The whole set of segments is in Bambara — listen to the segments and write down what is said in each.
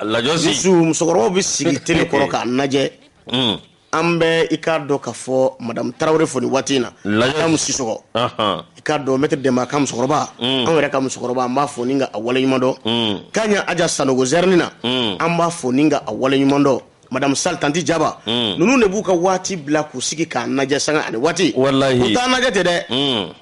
musokɔrɔbaw bɛ sigi tele kɔrɔ k'an lajɛ mm. an bɛ i k'a dɔn ka fɔ madamu tarawele fo nin waati in na lamu sisɔkɔ i ka dɔn maître dɛma ka musokɔrɔba mm. anw yɛrɛ ka musokɔrɔba an b'a fo ni ka a wale ɲumandɔn mm. k'a ɲɛ aja sanɔgɔ zɛrni na an b'a fo ni ka a wale ɲumandɔn madamu sali tanti jaba ninnu de b'u ka waati bila k'u sigi k'an lajɛ sanga ni waati u t'an lajɛ tɛ dɛ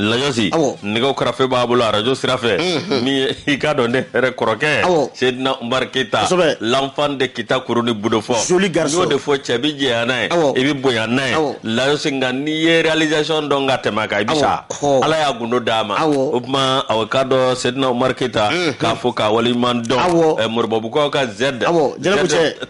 lajɔsi nɛgɛ karafe b'a bolo arajo sira fɛ min ye i k'a dɔn ne yɛrɛ kɔrɔkɛ sedina umar keyita l'enfant de kita kuru ni budofɔ n'o de fɔ cɛ bɛ jɛya n'a ye i bɛ bonya n'a ye lajɔsi nka n'i ye réalisation dɔn ka tɛmɛ a kan i bɛ sa ala y'a gundo d'a ma o tuma aw k'a dɔn sedina umar keyita k'a fo k'a waleɲuman dɔn moribabugukaw ka zɛd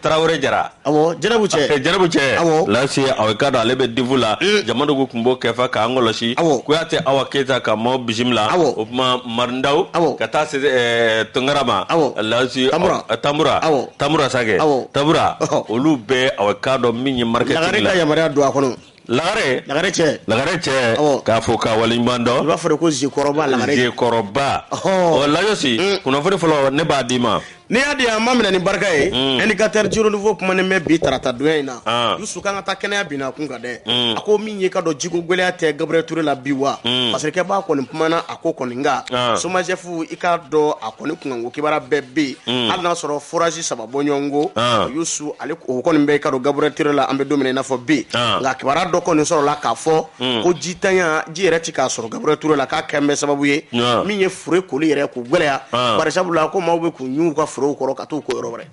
tarawele jara awɔ jɛnɛbu cɛ eh, jɛnɛbu cɛ awɔ lasi aw ka dɔn ale bɛ divu la eh. jama dogo tun b'o kɛfa k'an kɔlɔsi awɔ kuyatɛ awa keyita ka maaw bisimila awɔ o tuma marindaw awɔ ka taa se eh, tunkara ma awɔ lasi tanbura tanbura awɔ tanbura sakɛ awɔ tanbura olu bɛɛ aw ka dɔn min ye marketing lagare ka yamaruya don a kɔnɔ lagare lagare cɛ lagare cɛ k'a fo k'a waleɲuman dɔn i b'a fɔ de ko zekɔrɔba lagare zekɔrɔba ɔ layosi mm. kunnafoni fɔlɔ ne b'a d'i ma n'i y'a di an b'a minɛ ni barika ye mm. indicateur du renouveau kumanen bɛ bi tarata don in na ah. Yusu k'an ka taa kɛnɛya binna kun kan dɛ mm. a ko min ye i k'a dɔn jiko gɛlɛya tɛ Gabriel Toure la bi wa parce que kɛbaa kɔni kumana a ko kɔni nka ah. somajɛpu i k'a dɔn a kɔni kunkanko kibaruya bɛɛ bɛ yen hali n'a sɔrɔ forage saba b'u ɲɔgɔn kɔ ah. yusu ale o kɔni bɛ i ka dɔn gabriel ture la an bɛ don min na i n'a fɔ bi ah. nka kibaru dɔ kɔni sɔrɔla k'a fɔ hmm. ko jitanya ji yɛrɛ tɛ ka sɔrɔ gabriel ture la k'a kɛnen bɛ sababu ye ah. min ye fure koli yɛrɛ ko gɛlɛya bari sabu la ko maaw bɛ k'u ɲu ka furew kɔrɔ ka taa u ko yɔrɔ wɛrɛ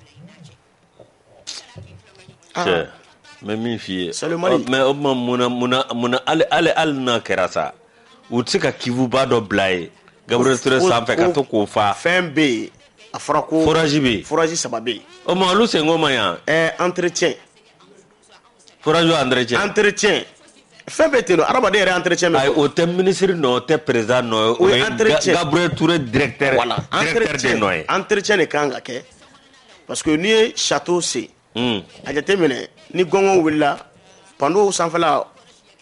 mɛ min f'i ye mɛ o tuma munna hali n'a kɛra sa u tɛ se ka kivuba dɔ bila ye gabriel ture sanfɛ ka to k'o fa fɛn bɛ yen a fɔra ko foraji bɛ yen foraji saba bɛ yen o ma olu senko ma yan ɛɛ entretien foraji entretien entretien fɛn bɛɛ ten don adamaden yɛrɛ entretien bɛ o tɛ minisiri nɔ o tɛ perezan nɔ ye o ye entretien gabriel ture directeur directeur de nɔ ye entretien de kan ka kɛ parce que n'i ye château sen a jate minɛ ni gɔngɔw wulila panow sanfɛla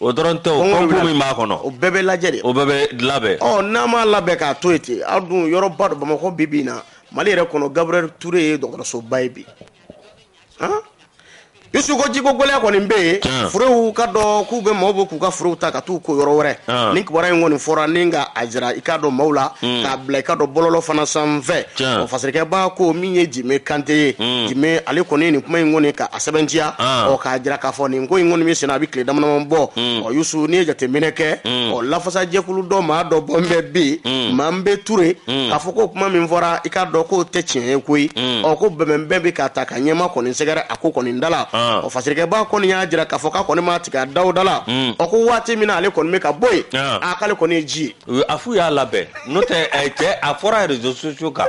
o dɔrɔn tɛ ko min b'a kɔnɔ o bɛɛ bɛ lajɛ de o bɛɛ bɛ labɛn ɔ n'an m'a labɛn k'a to yen ten a dun yɔrɔba don bamakɔ bi bi in na mali yɛrɛ kɔnɔ gabriel ture ye dɔgɔtɔrɔsoba ye bi yusu ko jiko gɛlɛya kɔni bɛ yen furew i ka dɔn k'u bɛ maaw bɛ k'u ka furew ta ka taa u ko yɔrɔ wɛrɛ nin kibaru in kɔni fɔra ni ka a jira i ka dɔn maaw la k'a bila i ka dɔn bɔlɔlɔ fana sanfɛ o fasekɛba ko min ye jime kante ye mm. jime ale kɔni nin kuma in kɔni ka a sɛbɛntiya ah. ɔ k'a jira k'a fɔ nin ko in kɔni min senna a bɛ tile damadama bɔ mm. ɔ yusu n'i ye jateminɛ kɛ mm. ɔ lafasajɛkulu dɔ maa dɔ bɔ n bɛ bɛ yen mm. manbe ture mm. k'a fɔ ko kuma min fɔra i k'a dɔn k'o tɛ tiɲɛ ye koyi mm. ɔ ko bɛnbɛnbɛn bɛ ka taa ka ɲɛmaa kɔni sɛgɛrɛ a ko kɔni da la ah. ɔ fasirikɛba kɔni y'a jira k'a fɔ k'a kɔni ma tigɛ a daw da la mm. ɔ ko waati min na ale kɔni bɛ ka bɔ yen ah. a k'ale kɔni ye ji ye a f'u y'a labɛn n'o tɛ eh, cɛ a fɔra réseaux sociaux kan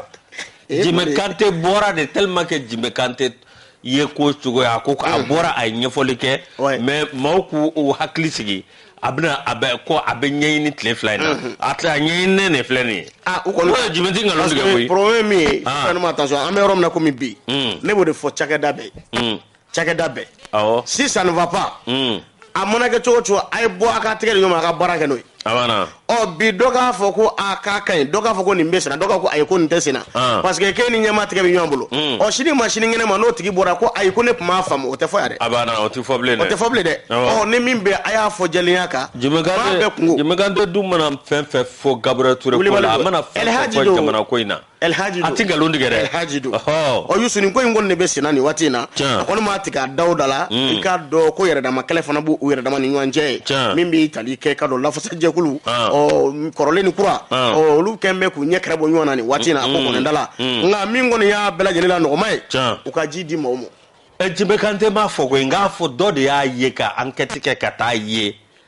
Eh, jime kante bɔra de tellement que jime kante ye ko cogoya a ko a mm. bɔra a ye ɲɛfɔli kɛ mais maaw k'u u hakili sigi a bɛna a bɛ ko a bɛ ɲɛɲini tile fila in na mm-hmm. a tɛ a ɲɛɲininen de filɛ nin ye ah, o kɔni jime tɛ nkalon tigɛ koyi problème min ye ah. fɛn ma attention an bɛ yɔrɔ min na komi bi mm. ne b'o de fɔ cakɛda bɛɛ mm. cakɛda bɛɛ awɔ si ça ne va pas hmm. a mana kɛ cogo cogo a ye bɔ a ka tɛgɛ di ɲɔgɔn ma a ka baara kɛ n'o ye abana ɔ bi dɔ k'a fɔ ko a k'a ka ɲi dɔ k'a fɔ ko nin bɛ senna dɔ k'a ko ayi ko nin tɛ senna ah. parce que k'e ni jama tɛgɛ bɛ ɲɔgɔn bolo hmm. ɔ sini ma sini kɛnɛ ma n'o tigi bɔra ko ayi ko ne tun m'a faamu o tɛ fɔ yan dɛ abana o tɛ fɔ bilen dɛ o tɛ fɔ bilen dɛ ɔ ni min bɛ a y'a fɔ jɛlenya kan jime kante dun mana fɛn fɛn fɔ Gabriel Toure ko la a mana fɛn fɛn fɔ jamana ko in na Elhaji don. A tɛ nkalon tigɛ dɛ. Elhaji don. Ɔhɔ. Ɔ Yusu nin ko in kɔni de bɛ senna nin waati in na. Tiɲɛ. A kɔni m'a tigɛ a daw da la. Mm. I k'a dɔn ko yɛrɛdama kɛlɛ fana b'u u yɛrɛdama ni ɲɔgɔn cɛ yen. Tiɲɛ. Min bɛ tali kɛ ka don lafasajɛkulu. Ah. Ɔ kɔrɔlen ni kura. Ah. Ɔ olu kɛlen bɛ k'u ɲɛ kɛrɛ bɔ ɲɔgɔn na nin waati in na a ko Mm. kɔni da la. Mm. Nka min kɔni y'a bɛɛ lajɛlen la nɔgɔman ye. Tiɲɛ. U ka ji di maaw ma. Ɛ Jime Kante m'a fɔ koyi n k'a fɔ dɔ de y'a ye ka ankɛti kɛ ka taa ye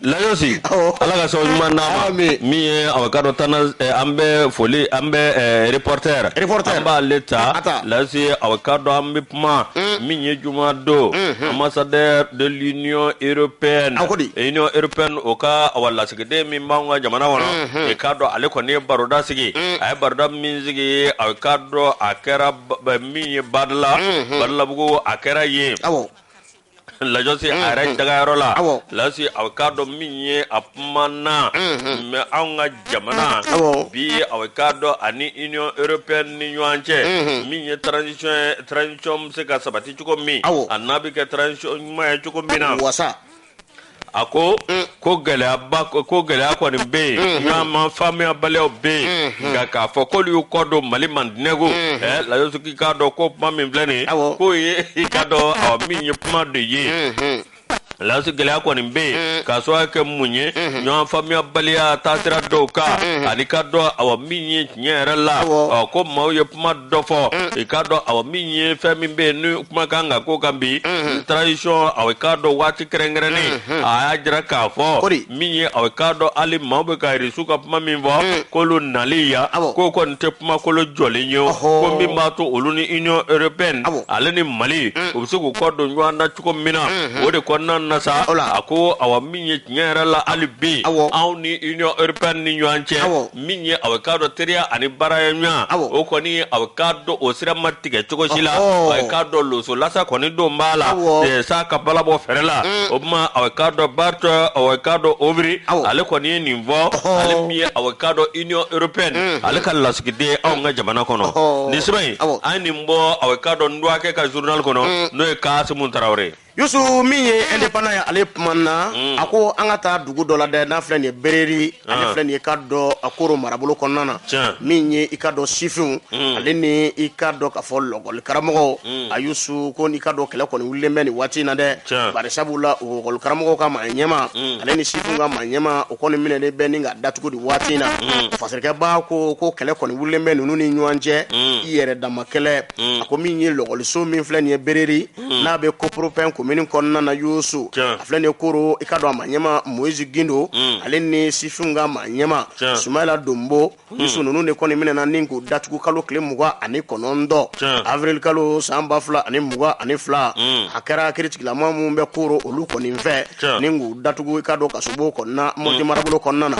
layosi ala ka sababu ɲuman n'a ma min ye aw k'a dɔn tana eh, an bɛ foli an bɛ eh, reporter an b'ale ta layosi aw k'a dɔn an bɛ kuma mm. min ye juma don mm-hmm. ambassadeur de l'union européenne union européenne o ka awa lasigiden min b'anw ka jamana kɔnɔ mm-hmm. i k'a dɔn ale kɔni ye baroda sigi mm. a ye baroda min sigi aw k'a dɔn a kɛra min ye badala mm-hmm. badalabugu a kɛra yen lajɔsi a yɛrɛ mm-hmm. dagayɔrɔ la lasi aw k'a dɔn min ye a kumana mm-hmm. mais anw ka jamana mm-hmm. bi aw k'a dɔn ani union européenne ni ɲɔgɔn cɛ min ye transition ye transition bɛ se ka sabati cogo min an'a bɛ kɛ transition ɲuman ye cogo min na wasa a ko mm. ko gɛlɛyaba ko gɛlɛya kɔni bɛ yen mm-hmm. ɲɔgɔn faamuyabaliyaw bɛ yen mm-hmm. nka k'a fɔ k'olu y'u kɔ don mali mandinɛko mm-hmm. ɛ lajɔsi k'i k'a dɔn ko kuma min filɛ nin ye k'o ye i k'a dɔn ɔ min ye kuma de ye lasi gɛlɛya kɔni bɛ yen mm. k'a sababu kɛ mun ye ɲɔgɔn faamuyabaliya taasira dɔw kan an'i k'a dɔn awa min ye tiɲɛ yɛrɛ la ɔ ko maaw ye kuma dɔ fɔ mm. i k'a dɔn awa min ye fɛn min bɛ yen ni kuma kan ka ko kan bi mm-hmm. transition aw k'a dɔn waati kɛrɛnkɛrɛnnen mm-hmm. a y'a jira k'a fɔ min ye aw k'a dɔn hali maaw bɛ ka irisiw ka kuma min fɔ mm. k'olu nali yan k'o kɔni tɛ kumakolo jɔlen ye ko min b'a to olu ni union européenne ale ni mali mm. u bɛ se k'u kɔ don ɲɔgɔn na cogo min na mm-hmm. o de kɔnɔna na sa a ko awa min ye tiɲɛ yɛrɛ la hali bi anw ni union européenne ni ɲɔgɔn cɛ min ye aw k'a dɔn teriya ani baaraya ɲɔgɔn o kɔni aw k'a dɔn o sira ma tigɛ cogo si la aw k'a dɔn loso lasa kɔni don b'a la sa ka bala bɔ fɛrɛ la mm. o tuma aw k'a dɔn bart aw k'a dɔn ouvry ale kɔni ye nin fɔ ale min ye aw k'a dɔn union européenne mm. ale ka lasigiden anw ka jamana kɔnɔ nin sɛbɛn in an nin bɔ aw k'a dɔn n dɔgɔkɛ ka journal kɔnɔ mm. n'o ye kasimu tarawele ye yusu min ye indépendant ye ale kuma na a ko an ka taa dugu dɔ la dɛ n'a filɛ nin ye bereri ale filɛ nin ye i k'a dɔn a koro marabolo kɔnɔna na Tiɲɛ. min ye i k'a dɔn sifinw ale ni i k'a dɔn k'a fɔ lakɔli karamɔgɔw a yusu ko n'i k'a dɔn kɛlɛ kɔni wulilen bɛ nin waati in na dɛ Tiɲɛ. bari sabula o lakɔli karamɔgɔw ka maa ɲɛma ale ni sifinw ka maa ɲɛma o kɔni minɛlen bɛ ni ka datugu nin waati in na fasirikɛba ko ko kɛlɛ kɔni wulilen bɛ ninnu ni ɲɔgɔn cɛ i yɛrɛ dama kɛlɛ a ko min ye lakɔliso min filɛ nin ye bereri hmm. n'a bɛ koporopɛn komini kɔnɔna na yusu a filɛ nin ye koro i k'a dɔn a maa ɲɛma moise gindo hmm. ale ni sifinw ka maa ɲɛma sumayla donbo hmm. yusu ninnu de kɔni minɛna ni k'u datugu kalo tile mugan ani kɔnɔntɔn avril kalo san ba fila ani mugan ani fila a kɛra kiiritigɛlamaa minnu bɛ koro olu kɔni fɛ ni k'u datugu i k'a dɔn kasobon kɔnɔna mɔti marabolo kɔnɔna na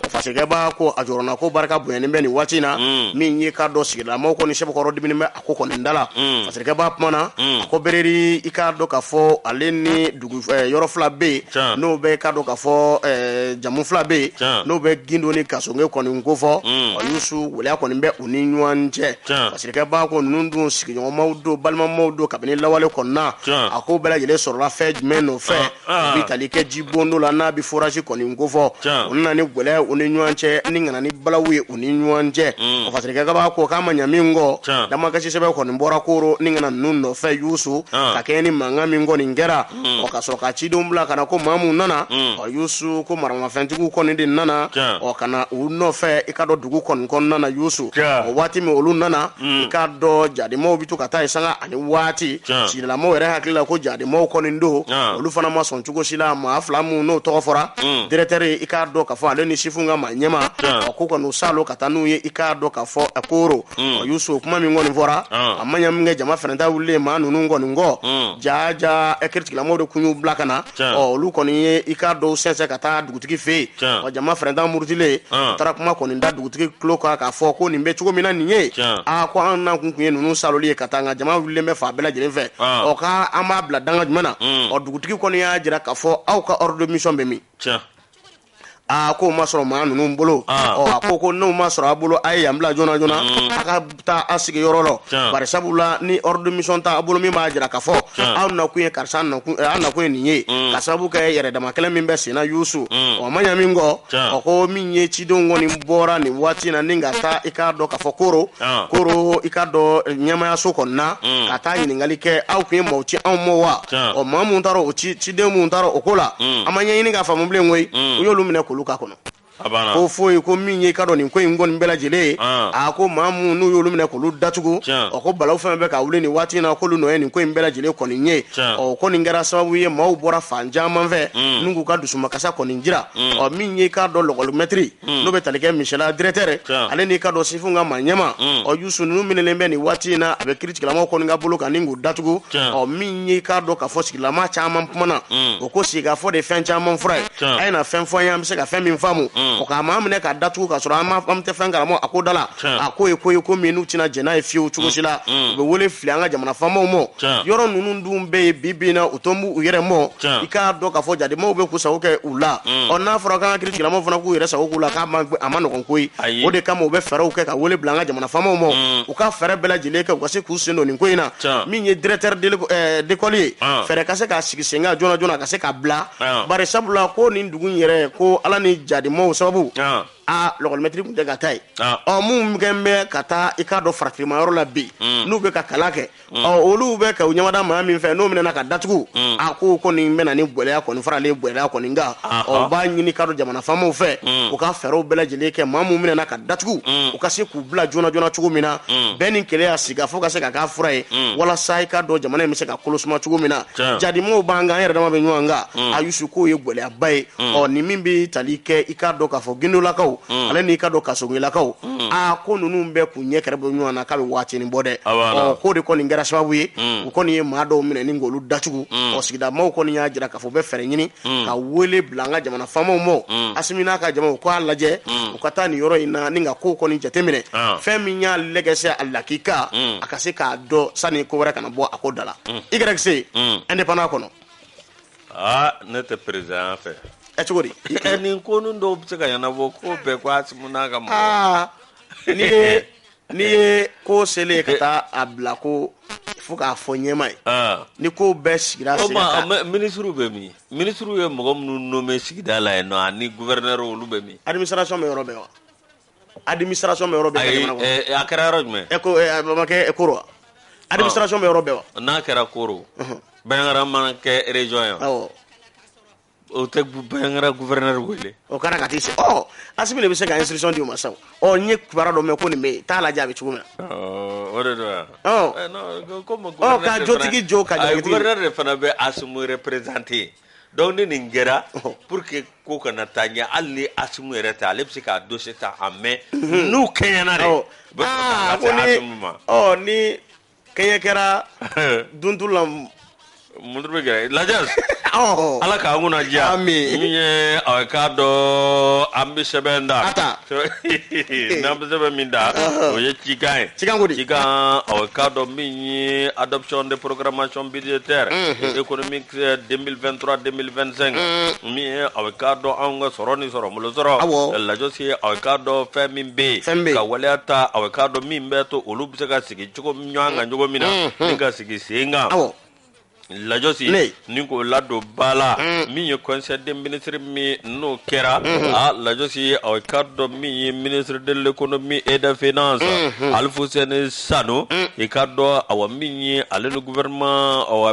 fasirikɛba ko a jɔrɔnanko barika bonyanen bɛ nin waati in na min y'i k'a dɔn sigidalamaw kɔni sɛbɛkɔrɔ diminen bɛ ko kɔni da la mm. fasirikɛba kuma na mm. ko bereri i k'a dɔn k'a fɔ ale ni dugu eh, yɔrɔ fila bɛ yen n'o bɛ k'a dɔn k'a fɔ eh, jamu fila bɛ yen n'o bɛ gindo ni kasonge kɔni kofɔ mm. ɔ yusu waleya kɔni bɛ u ni ɲɔgɔn cɛ fasirikɛba ko ninnu dun sigiɲɔgɔnmaw don balimamaw don kabini lawale kɔnɔna a ko bɛɛ lajɛlen sɔrɔla fɛn jumɛn nɔfɛ ah. Ah. bɛ tali kɛ jibondo la n'a bɛ forage kɔni kofɔ u nana ni gɛlɛya u ni ɲɔgɔn cɛ ni ka na ni balawu ye u ni ɲɔgɔn cɛ mm. o fasirikɛba ko k'a ma ɲa min kɔ damakasi sɛbɛn kɔni bɔra koro ni ka na ninnu nɔfɛ yusu ah. ka kɛ ni mankan min kɔni kɛra mm. ɔ ka sɔrɔ ka cidenw bila ka na ko maa minnu nana mm. ɔ yusu ko maramafɛntigiw kɔni de nana ɔ ka na u nɔfɛ i k'a dɔn dugu kɔni kɔnɔna na yusu o waati min olu nana i k'a dɔn jadimaw bɛ to ka taa yen sanga ani waati Tiɲɛ. sigidalamaw yɛrɛ hakili la ko jadimaw kɔni don Tiɲɛ. olu fana ma sɔn cogo si la maa fila minnu n'o tɔgɔ fɔra Mm. directeur i k'a dɔn k'a fɔ ale ni sifinw ka maa ɲɛma Tiɲɛ. ɔ, ko kɔni u salo ka taa n'u ye i k'a dɔn k'a fɔ a koro Mm. ɔ, yusu o kuma min kɔni fɔra Ah. a ma ɲɛ min kɛ jama fana ta wulilen maa ninnu kɔni kɔ Mm. jaa jaa ɛ kiiritigɛlamaaw de kun y'u bila ka na Tiɲɛ. ɔ, olu kɔni ye i k'a dɔn sɛnsɛn ka taa dugu dugutigi fɛ yen Tiɲɛ. wa jama fɛrɛntan murutilen An. a taara kuma kɔni da dugutigi tulo kan k'a fɔ ko nin bɛ cogo min na nin ye Tiɲɛ. aa ko an nakun kun ye ninnu saloli ye ka taa nka jama wulilen bɛ fa bɛɛ lajɛlen fɛ An. ɔ ka an b'a bila danga jumɛn na Mm. ɔ dugutigi kɔni y'a jira k'a fɔ aw ka ordre de mission bɛ min tiɲɛ aa k'o ma sɔrɔ maa ninnu bolo An. ɔ a ko ko n'o ma sɔrɔ a bolo a ye yan bila joona joona a ka taa a sigiyɔrɔ la bari sabula ni ordre de mission t'a bolo min b'a jira k'a fɔ aw nakun ye karisa nakun eh, aw nakun ye nin ye mm. ka sababu kɛ yɛrɛ dama kɛlɛ min bɛ senna yusu mm. o ma ɲa min kɛ ɔ ko min ye cidenw kɔni bɔra nin waati na ni ka taa i k'a dɔn k'a fɔ koro koro i k'a dɔn eh, ɲɛmayaso kɔni na mm. ka taa ɲininkali kɛ aw kun ye maaw ci anw ma wa ɔ maa mun taara o ciden mun taara o ko la an ma ɲɛɲini k'a faamu bilen koyi u y'olu minɛ k'olu k'a kɔnɔ ko foyi ko min ye k'a dɔn nin ko in kɔni bɛɛ lajɛlen ye a ko maa minnu n'u y'olu minɛ k'olu datugu o ko balawu fɛn bɛ ka wuli nin waati in na k'olu nɔ ye nin ko in bɛɛ lajɛlen kɔni ye ɔ ko nin kɛra sababu ye maaw bɔra fan caman fɛ mm. n'u k'u ka dusumakasa kɔni jira mm. ɔ min ye k'a dɔn lakɔlimɛtiri mm. n'o bɛ tali kɛ misala directeur ale n'i k'a dɔn sifinw ka maa ɲɛma ɔ yusu ninnu minɛlen bɛ nin waati in na a bɛ kiritigilamaw kɔni ka bolo kan ni k'u datugu ɔ min ye k'a dɔn k'a fɔ sigilama caman kumana o ko sigikafɔ de fɛn caman fura ye a ye na fɛn fɔ an ye an bɛ se ka fɛn min faamu mm. o ka maa minɛ k'a datugu k'a sɔrɔ an tɛ fɛn karamɔgɔ a ko da la a ko ye ko ye ko min n'u tɛna jɛn n'a ye fiyewu cogo si la mm. Mm. u bɛ wele fili an ka jamana faamaw ma yɔrɔ ninnu dun bɛ yen bi bi in na u tɔn b'u yɛrɛ ma i k'a dɔn k'a fɔ jademaw bɛ k'u sago kɛ u la ɔ n'a fɔra k'an ka kiri tigilamaw fana k'u yɛrɛ sago k'u la k'a ma a man nɔgɔn koyi o de kama u bɛ fɛɛrɛw kɛ ka wele bila an ka jamana faamaw ma u ka fɛɛrɛ bɛɛ lajɛlen kɛ u ka se k'u sen don nin ko in na min ye directeur d'école ye ah. fɛɛrɛ ka se k'a sigi sen kan joona joona ka se k'a bila bari sabula ko nin dugu in yɛrɛ ko ala ni jadimaw sababu aa lakɔlimɛtiri tun tɛ ka taa yen ɔ minnu kɛ bɛ ka taa i k'a dɔn faratima yɔrɔ la bi mm. n'u bɛ ka kalan kɛ mm. ɔ olu bɛ ka u ɲamada maa min fɛ n'o minɛna ka datugu mm. a ko kɔni bɛna ni gɛlɛya kɔni faralen gɛlɛya kɔni kan u b'a ɲini k'a dɔn jamana faamaw fɛ u ka fɛɛrɛw bɛɛ lajɛlen kɛ maa minnu minɛna ka datugu u ka se k'u bila joona joona cogo min na bɛn ni kelenya sigifɔ ka se ka k'a fura ye walasa i k'a dɔn jamana in bɛ se ka kolosuma cogo min na jadimaw b'an kan an yɛrɛ dama bɛ ɲɔgɔn kan mm. a yusu k'o ye gɛlɛyaba ye mm. ɔ ni min bɛ tali kɛ i k'a dɔn k'a fɔ gindolakaw mm. ale n'i k'a dɔn kasongilakaw aa ko ninnu bɛɛ k'u ɲɛ kɛrɛ bɔ ɲɔgɔn na k'a bɛ waatinin bɔ dɛ ɔ k'o de kɔni kɛra sababu ye u kɔni ye maa dɔw minɛ ni k'olu datugu ɔ sigida maaw kɔni y'a jira k'a fɔ u bɛ fɛɛrɛ ɲini ka wele bila an ka jamana faamaw ma asimi n'a ka jamaw k'a lajɛ u ka taa nin yɔrɔ in na ni ka kow kɔni jateminɛ ah. fɛn min y'a lɛgɛsɛ a lakika a ka se k'a dɔn sani ko wɛrɛ kana bɔ a ko da la Mm. i kɛra se mm. indépendant kɔnɔ aa ne tɛ président fɛ ɛ cogo di nin ko ninnu dɔw bɛ se ka ɲɛnabɔ ko bɛɛ ko asimu n'a ka mɔgɔ ah, n'i ye n'i ye ko selen ye ka taa a bila ko fo k'a fɔ ɲɛmaa ye ah. ni ko bɛɛ sigira sen kan minisiriw bɛ min minisiriw ye mɔgɔ minnu nommé sigida la yen nɔ ani gouverneur olu bɛ min administration bɛ yɔrɔ bɛɛ wa administration bɛ yɔrɔ bɛɛ ka jamana kɔnɔ a kɛra yɔrɔ jumɛn e ko a ma kɛ koro wa administration bɛ yɔrɔ bɛɛ wa n'a kɛra koro banjagara ma na kɛ région ye wa o tɛ banjagara gouverneur wele o kɛra ka t'i se ɔ asimi de bɛ se ka instruction di o ma sa ɔ n ye kibaruya dɔ mɛn ko nin bɛ yen t'a lajɛ a bɛ cogo min na o de don wa ɔ ka jotigi jo ka jalakitigi gouverneur de fana bɛ asimu représenter donc ni nin kɛra pour que ko kana taa ɲɛ hali ni asimu yɛrɛ tɛ ale bɛ se k'a dossier ta en main mhm. n'u kɛɲɛna de u bɛ sɔrɔ ka se asimu ma ɔ ni kɛɲɛ kɛra duntu la mun bɛ kɛ lajɔsi ala k'an kunna diya min ye a bɛ k'a dɔn an bɛ sɛbɛn da n'an bɛ sɛbɛn min da o ye cikan ye cikan ko di cikan a bɛ k'a dɔn min ye adoption de programmation budgétaire économique 2023 2025 min ye a bɛ k'a dɔn anw ka sɔrɔ ni sɔrɔ bolo sɔrɔ Awɔ. lajɔsi ye a bɛ k'a dɔn fɛn min bɛ yen Fɛn bɛ yen. ka waleya ta a bɛ k'a dɔn min bɛ to olu bɛ se ka sigi cogo ɲɔgɔn kan cogo min na ni ka sigi sen kan awɔ lajɔsi Ne. ni k'o ladon ba la min ye conseil des ministres min n'o kɛra a lajɔsi ye a bɛ k'a dɔn min ye minisiri de l'économie et des finances Alifuseni Sano i k'a dɔn awa min ye ale ni gouvernement awa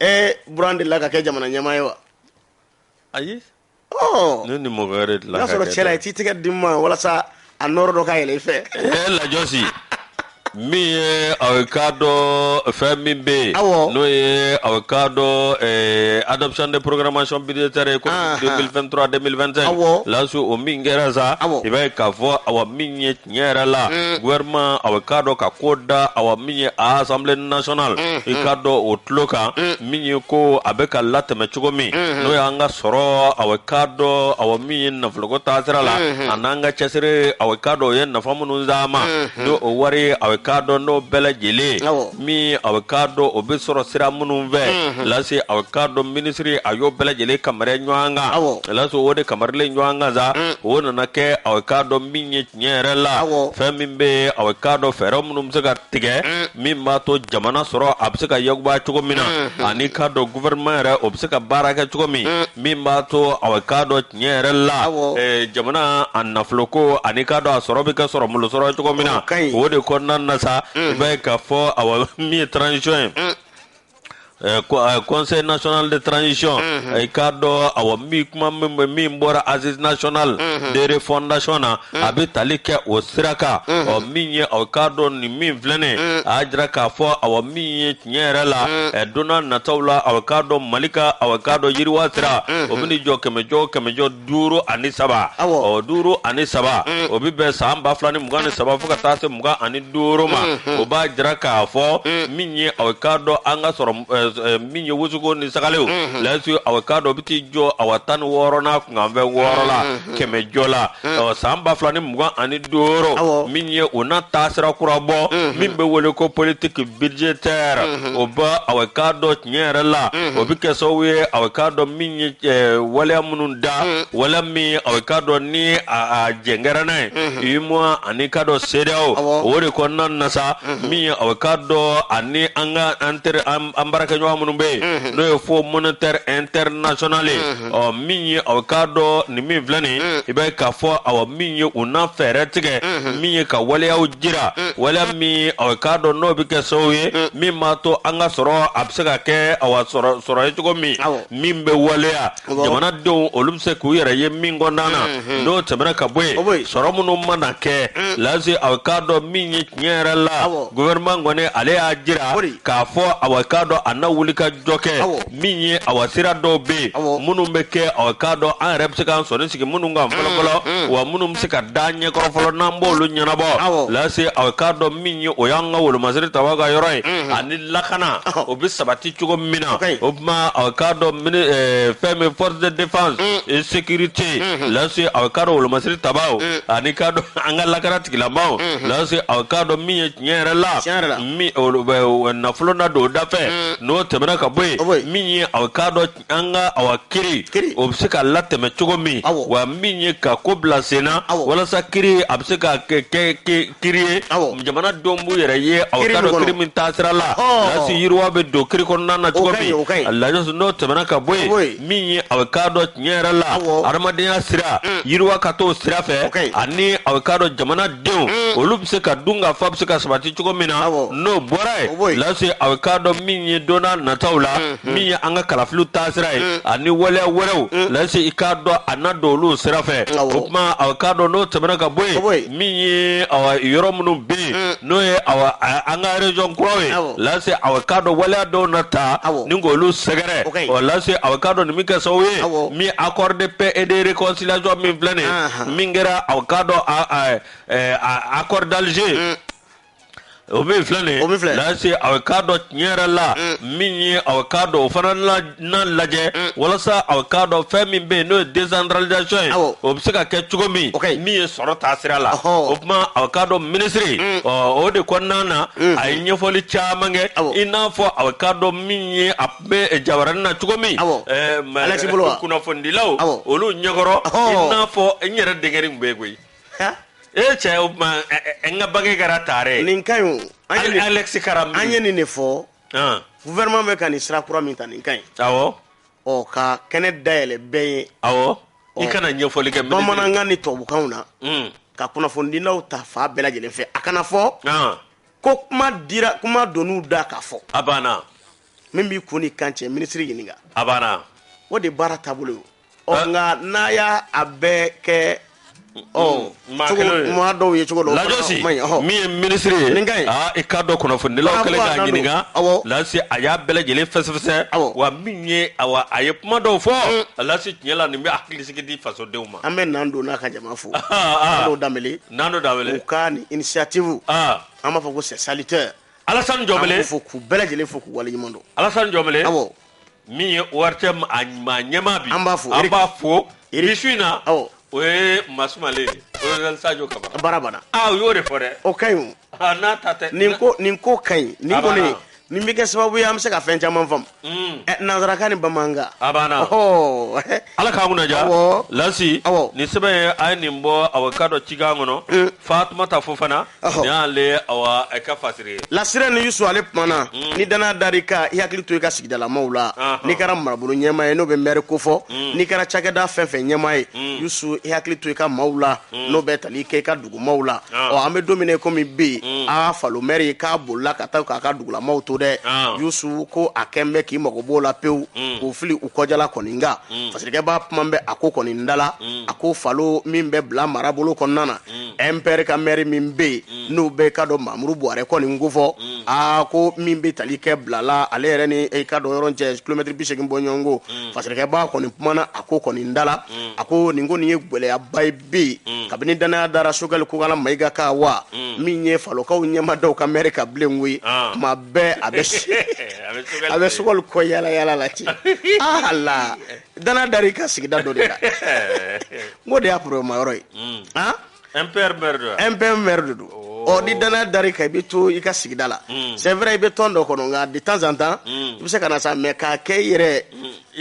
Ee buran de la ka kɛ jamana ɲɛmaa ye wa ayi ne ni mɔgɔ wɛrɛ dilan y'a sɔrɔ cɛla i t'i tɛgɛ di n ma walasa a n nɔɔrɔ dɔ ka yɛlɛ i fɛ e lajɔsi min ye a bɛ k'a dɔn fɛn min bɛ yen n'o ye a bɛ k'a dɔn adoption de programmation budgétaire éco 2023 2025 laso o min kɛra sa i b'a k'a fɔ awa min ye tiɲɛ yɛrɛ la mm. gouvernement aw k'a dɔn ka ko da awa min ye a assemblée nationale mm, i k'a dɔn o tulo kan min ye ko a bɛ ka latɛmɛ cogo min mm-hmm. n'o y'an ka sɔrɔ aw k'a dɔn awa min ye nafoloko taasira la mm-hmm. an'an ka cɛsiri aw k'a dɔn o ye nafa minnu sama mm-hmm. ni o wari aw k'a dɔn n'o bɛɛ lajɛlen min a bɛ k'a dɔn o bɛ sɔrɔ sira minnu fɛ mhm. lase a bɛ k'a dɔn minisiri a y'o bɛɛ lajɛlen kamari ɲɔgɔn kan lase o de kamarilen ɲɔgɔn kan sa mm. o nana kɛ a bɛ k'a dɔn min ye tiɲɛ yɛrɛ la fɛn min bɛ yen a bɛ k'a dɔn fɛɛrɛ minnu bɛ se ka tigɛ mm. min b'a to jamana sɔrɔ a bɛ se ka yuguba cogo min na mm-hmm. ani k'a dɔn gouvernement yɛrɛ o bɛ se ka baara kɛ cogo min mm. min b'a to a bɛ k'a dɔn tiɲɛ yɛrɛ la jamana a nafolo ko ani k'a dɔn a sɔrɔ bɛ ka sɔrɔ minnu sɔrɔ cogo min na o de kɔnɔna na sa i b'a ye k'a fɔ awa min ye transition ye conseil national de transition i k'a dɔn awa min kuma min bɛ min bɔra assises nationales de refondation na a bɛ tali kɛ o sira kan ɔ min ye aw k'a dɔn nin min filɛnen a y'a jira k'a fɔ awa min ye tiɲɛ yɛrɛ la mm. ɛ donna nataw la aw k'a dɔn mali ka aw k'a dɔn yiriwa sira mm-hmm. o bɛna jɔ kɛmɛjɔ kɛmɛjɔ duuru ani saba ɔ duuru ani saba mm. o bɛ bɛn san ba fila ni mugan ni saba fo ka taa se mugan ani duuru ma mm-hmm. o b'a jira k'a fɔ mm. min ye aw k'a dɔn an ka sɔrɔ min ye wusuruko ni sagalenw mm-hmm. lase aw k'a dɔn o bɛ t'i jɔ awa tan ni wɔɔrɔ n'a kunkanfɛn wɔɔrɔ la kɛmɛjɔ la ɔ, san ba fila ni mugan ani duuru Awɔ. min ye o n'a taasira kura bɔ min bɛ wele ko politique budgétaire o bɛ aw k'a dɔn tiɲɛ yɛrɛ la o bɛ kɛ sababu ye aw k'a dɔn min ye eh, waleya minnu da waleya min aw k'a dɔn ni a a jɛn kɛra n'a ye UEMOA ani k'a dɔn CEDEAO Awɔ. o de kɔnɔna na sa min ye aw k'a dɔn ani an ka an teri an an baarakɛɲɔgɔn minnu bɛ yen n'o ye fonds monétaire international ye ɔ min ye aw k'a dɔn nin min filɛ nin i b'a ye k'a fɔ awa min ye u na fɛɛrɛ tigɛ min ye ka waleyaw jira waleya min aw k'a dɔn n'o bɛ kɛ sababu ye min b'a to an ka sɔrɔ a bɛ se ka kɛ awa sɔrɔ ye cogo min min bɛ waleya jamanadenw olu bɛ se k'u yɛrɛ ye min kɔnɔna na n'o tɛmɛna ka bɔ yen sɔrɔ minnu mana kɛ lase aw k'a dɔn min ye tiɲɛ yɛrɛ la gouvernement kɔni ale y'a jira k'a fɔ aw k'a dɔn a na wulikajɔ kɛ min ye awa sira dɔw bɛ yen minnu bɛ kɛ aw k'a dɔn an yɛrɛ bɛ se k'an sɔnin sigi minnu kan fɔlɔfɔlɔ mm, mm. wa minnu bɛ se ka da ɲɛkɔrɔ fɔlɔ n'an b'olu ɲɛnabɔ lase aw k'a dɔn min ye o y'an ka wolomasiri tabaw ka yɔrɔ ye mm-hmm. ani lakana o bɛ sabati cogo min na o tuma aw k'a dɔn eh, fɛn min forces de défense mm. et sécurité mm-hmm. lase aw k'a dɔn wolomasiri tabaw ani k'a dɔn an ka lakana tigilamaw mm-hmm. lase aw k'a dɔn min ye tiɲɛ yɛrɛ la min olu bɛ o nafolo na don o da fɛ Mm. n'o tɛmɛna ka bɔ O bɔ yen yen. min ye aw k'a dɔn an ka awa kiri Kiri. o bɛ se ka latɛmɛ cogo min Awɔ. wa min ye ka ko bila sen na Awɔ. walasa kiri a bɛ se ka kɛ kɛ ki- kiri ye Awɔ. jamana denw b'u yɛrɛ ye aw Kiri k'a min dɔn kɔnɔ. kiri min taasira la Ɔhɔn. lasi yiriwa bɛ don kiri kɔnɔna na cogo ka ɲi, min o ka ɲi. a lajɛ n'o tɛmɛna ka bɔ O bɔ yen yen. min ye aw k'a dɔn tiɲɛ yɛrɛ la adamadenya sira mm. yiriwa ka t'o sira fɛ ani aw k'a dɔn jamana denw mm. olu bɛ se ka dun ka fa bɛ se ka sabati cogo min na n'o bɔra yen lase aw k'a dɔn min ye donna nataw la mm-hmm. min ye an ka kalafiliw taasira ye mm. ani waleya wɛrɛw lase i k'a dɔn a na don olu sira fɛ o tuma aw k'a dɔn n'o tɛmɛna ka bɔ yen min ye yɔrɔ minnu bɛ yen mm. n'o ye an ka région kuraw ye Lasi awa k'a dɔn waleya dɔw na taa ni k'olu sɛgɛrɛ ɔ Lasi awa k'a dɔn nin bɛ kɛ sababu ye min accord de paix et de réconciliation min filɛ nin ye min kɛra awa k'a dɔn accord d'Alger mm. o min filɛ nin ye Lasi a bɛ k'a dɔn tiɲɛ yɛrɛ la mm. min ye a bɛ k'a dɔn o fana na lajɛ mm. walasa a bɛ k'a dɔn fɛn min bɛ yen n'o ye desantaralizasɔn ye o bɛ se ka kɛ cogo min min ye sɔrɔ taa sira la o tuma a bɛ k'a dɔn minisiri mm. o de kɔnɔna na a ye ɲɛfɔli caman kɛ i n'a fɔ a bɛ k'a dɔn min ye a bɛ jabarani na cogo min kunnafonidilaw olu ɲɛkɔrɔ i n'a fɔ n yɛrɛ denkɛnin tun bɛ yen koyi e cɛ o tuma n ka bange kɛra tare nin ka ɲi o Alexis karam an ye nin de fɔ gouvernement bɛ ka nin sira kura min ta nin ka ɲi awɔ ɔ ka kɛnɛ dayɛlɛ bɛɛ ye awɔ i ka na ɲɛfɔli kɛ bamanankan ni tubabukan na hmm. ka kunnafonidilaw ta fan bɛɛ lajɛlen fɛ a kana fɔ ko kuma dira kuma donn'u da k'a fɔ a banna min b'i kun n'i kan cɛ minisiri ɲininka a banna o de baara taabolo ye ɔ nka n'a y'a bɛɛ kɛ ɔ maa cogo kelen ye. maa dɔw ye cogo dɔw Lajo si, fana man ɲi, ɔhɔ. min ye minisiri ye, Nin ka ɲi. aa, i k'a dɔn kunnafonidilaw Karamɔgɔ kɛlen k'a Adama don. ɲininka, Awɔ. Lasi a y'a bɛɛ lajɛlen fɛsɛfɛsɛ, Awɔ. wa min ye awa, a ye kuma dɔw fɔ, Lasi tiɲɛ la nin bɛ hakilisigi di fasodenw ma. an bɛ Nando n'a ka jama fo Ah, Nando Danbele, u ka nin initiative ah, an b'a fɔ ko c'est salutaire Alassane Jɔnbele fo k'u bɛɛ lajɛlen fo k'u waleɲuman dɔn Alassane Jɔnbele, awɔ min ye ORTM ɲɛmaa bi an b'a fo an b'a fo bi su in na awɔ o ye maa sumalen ye colonel Sajo Kamara baara banna aa u y'o de fɔ dɛ o ka ɲi o aa n'a ta tɛ nin ko nin ko ka ɲi nin A banna. kɔni nin bɛ kɛ sababu ye an bɛ se ka fɛn caman faamu Mm. Ɛ, nansarakan ni bamanankan a banna Ɔhɔ. ala k'an kunnadiya Awɔ. Lasi Awɔ. nin sɛbɛn ye a ye nin bɔ awa k'a dɔn cikan kɔnɔ Mm. Fatumata Fofana n'ale awa a ka fasiri Lasi ani Yusu ale kumana mm. ni dannaya dar'i kan i hakili to i ka sigidalamaw la n'i kɛra marabolo ɲɛmaa ye n'o bɛ mɛri kofɔ mm. n'i kɛra cakɛda fɛn fɛn ɲɛmaa ye mm. Yusu i hakili to i ka maaw la n'o bɛ tali kɛ i ka dugumaw la ɔ an bɛ don min na komi bi a Falo mɛri k'a bolila ka taa k'a ka dugulamaw to dɛ Yusu ko a kɛlen bɛ k'i mago b'o la pewu k'o fili u kɔjala kɔni nka fasirikɛba kuma bɛ a ko kɔni da la a ko Falo min bɛ Bila marabolo kɔnɔna na MPR ka mɛri min bɛ yen n'u bɛ k'a dɔn Mamuru Buwarɛ kɔni ko fɔ aa ko min bɛ tali kɛ Bila la ale yɛrɛ n'i k'a dɔn yɔrɔ cɛ kilomɛtiri bi segin bɔ ɲɔgɔn ko fasirikɛba kɔni kumana a ko kɔni da la a ko nin ko nin ye gɛlɛyaba ye bi kabini dannaya dara Sogɛli Kokala Mayiga kan wa min ye Falokaw ɲɛ ma da u ka mɛri kan bilen koyi tuma bɛɛ a bɛ a bɛ Sogɛli kɔ yaala la ten la danaya dar'i ka sigida dɔ de la n ko de y'a problème yɔrɔ ye mm. han MPR maire don MPR maire de don ɔ ni danaya dar'i kan i bɛ to i ka sigida la mm. c'est vrai i bɛ tɔn dɔ kɔnɔ nka de temps en temps mm. i bɛ se ka na sa mais k'a kɛ i yɛrɛ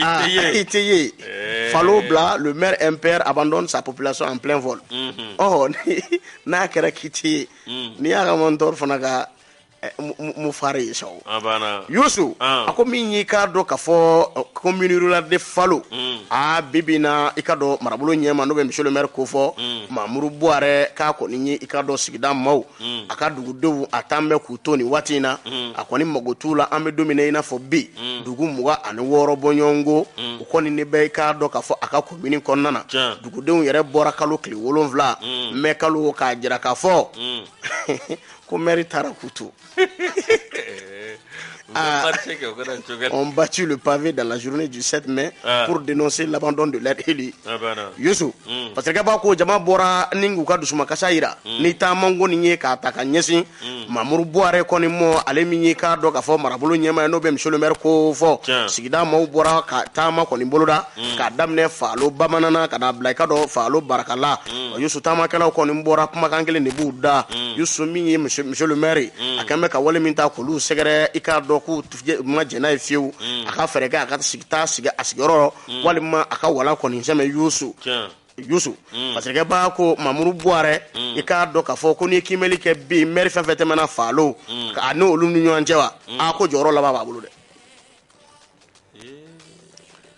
ah, i tɛ ye eh. falo bila le maire MPR abandonne sa population en plein vol ɔ mm-hmm. oh, n'a kɛra k'i tɛ ye n'i y'a ka mentor fana ka eh, mufare ye sa yusu a ko min y'i k'a dɔn ka fɔ commune rurale de falo mm. a bibi na i ka dɔn marabolo ɲɛma n'o bɛ monsieur le maire ko fɔ mm. mamuru buwarɛ k'a kɔni ye i ka dɔn sigida maaw mm. a ka dugudenw a taan bɛ k'u to nin waati in na a kɔni mago t'u la an bɛ don min na i n'a fɔ bi dugu mugan ani wɔɔrɔ bɔɲɔgɔnko u kɔni ne bɛ i k'a dɔn ka fɔ a ka komini kɔnɔna na dugudenw yɛrɛ bɔra kalo tile wolonwula mɛ kalo k'a jira k'a fɔ ko mɛri taara k'u to Ah. Ont battu le pavé dans la journée du 7 mai ah. pour dénoncer l'abandon de leur élu. Ah, bah Youssou, hmm. parce que b'a ko jama bɔra ni k'u ka dusumakasa yira hmm. ni taama ko nin ye k'a ta ka ɲɛsin hmm. Mamuru Buwarɛ kɔni mɔ ale min ye k'a dɔn k'a fɔ marabolo ɲɛma ye n'o bɛ monsieur le maire ko fɔ sigida maaw bɔra ka taama kɔni boloda k'a daminɛ Falo bamanana ka n'a bila i ka dɔn Falo barakala mm. yusu taamakɛlaw kɔni bɔra kumakan kelen de b'u da mm. yusu min ye monsieur le maire mm. a kɛn bɛ ka wale min ta k'olu sɛgɛrɛ i k'a dɔn k'u ma jɛn n'a ye fiyewu a ka fɛɛrɛ kɛ a ka sigi taa sigi a sigiyɔrɔ walima a ka walan kɔni sɛmɛ yusu yusu mm. parce que b'a ko mamuru buwarɛ mm. i k'a dɔn k'a fɔ ko n'i ye kimɛli kɛ bi mɛri fɛn fɛn tɛmɛna falo mm. a n'olu ni ɲɔgɔn cɛ wa a ko jɔyɔrɔ laban b'a bolo dɛ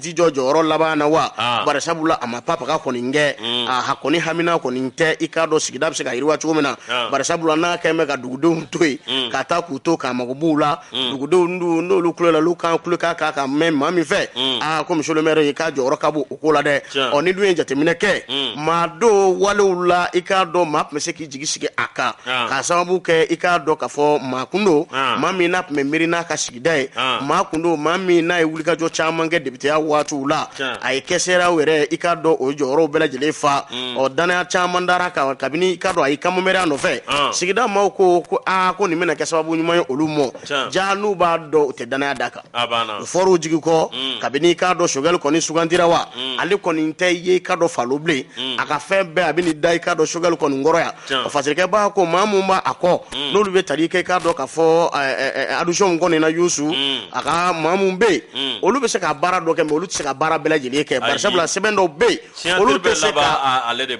tɛ jɔ jɔyɔrɔ laban na wa ah. barisabula a ma papaga kɔni kɛ mm. a ha kɔni hamina kɔni tɛ i k'a dɔn sigida bɛ se ka yiriwa cogo min na ah. barisabula n'a kɛlen bɛ ka dugudenw to yen mm. ka taa k'u to k'a mago b'u la mm. dugudenw dun n'olu kulo la olu kan kulo k'a k'a ka mɛn maa min fɛ aa ko monsieur le maire ye k'a jɔyɔrɔ ka bon o ko la dɛ ɔ n'i dun ye jateminɛ kɛ maa dɔw walew la i k'a dɔn maa tun bɛ se k'i jigi sigi a kan k'a sababu kɛ i k'a dɔn ka fɔ maa kun don maa min n'a tun bɛ miiri n'a ka sigida ye maa kun don maa min n'a ye wulikajɔ caman kɛ depiteya waatiw la a ye questeurya yɛrɛ i k'a dɔn o jɔyɔrɔw bɛɛ lajɛlen fa ɔ danaya caman dar'a kan kabini i ka dɔn a y'i kanbɔ mɛriya nɔfɛ sigida maaw ko ko aa ko nin bɛna kɛ sababu ɲuman ye olu mɔ jaa n'u b'a dɔn u tɛ danaya d'a kan u fɔr'u jigi kɔ mm. kabini i k'a dɔn sogɛli kɔni sugandira wa mm. ale kɔni tɛ ye i ka dɔn falo bilen mm. a ka fɛn bɛɛ a bɛ n'i da i ka dɔn sogɛli kɔni kɔrɔ yan parce que b'a ko maa min b'a kɔ n'olu bɛ tali kɛ i k'a dɔn ka fɔ adjoint kɔni na yusu a ka maa min bɛ yen olu bɛ se ka baara dɔ kɛ mais olu tɛ se ka baara bɛɛ lajɛlen kɛ barisabula sɛbɛn dɔw bɛ yen olu tɛ se ka ale de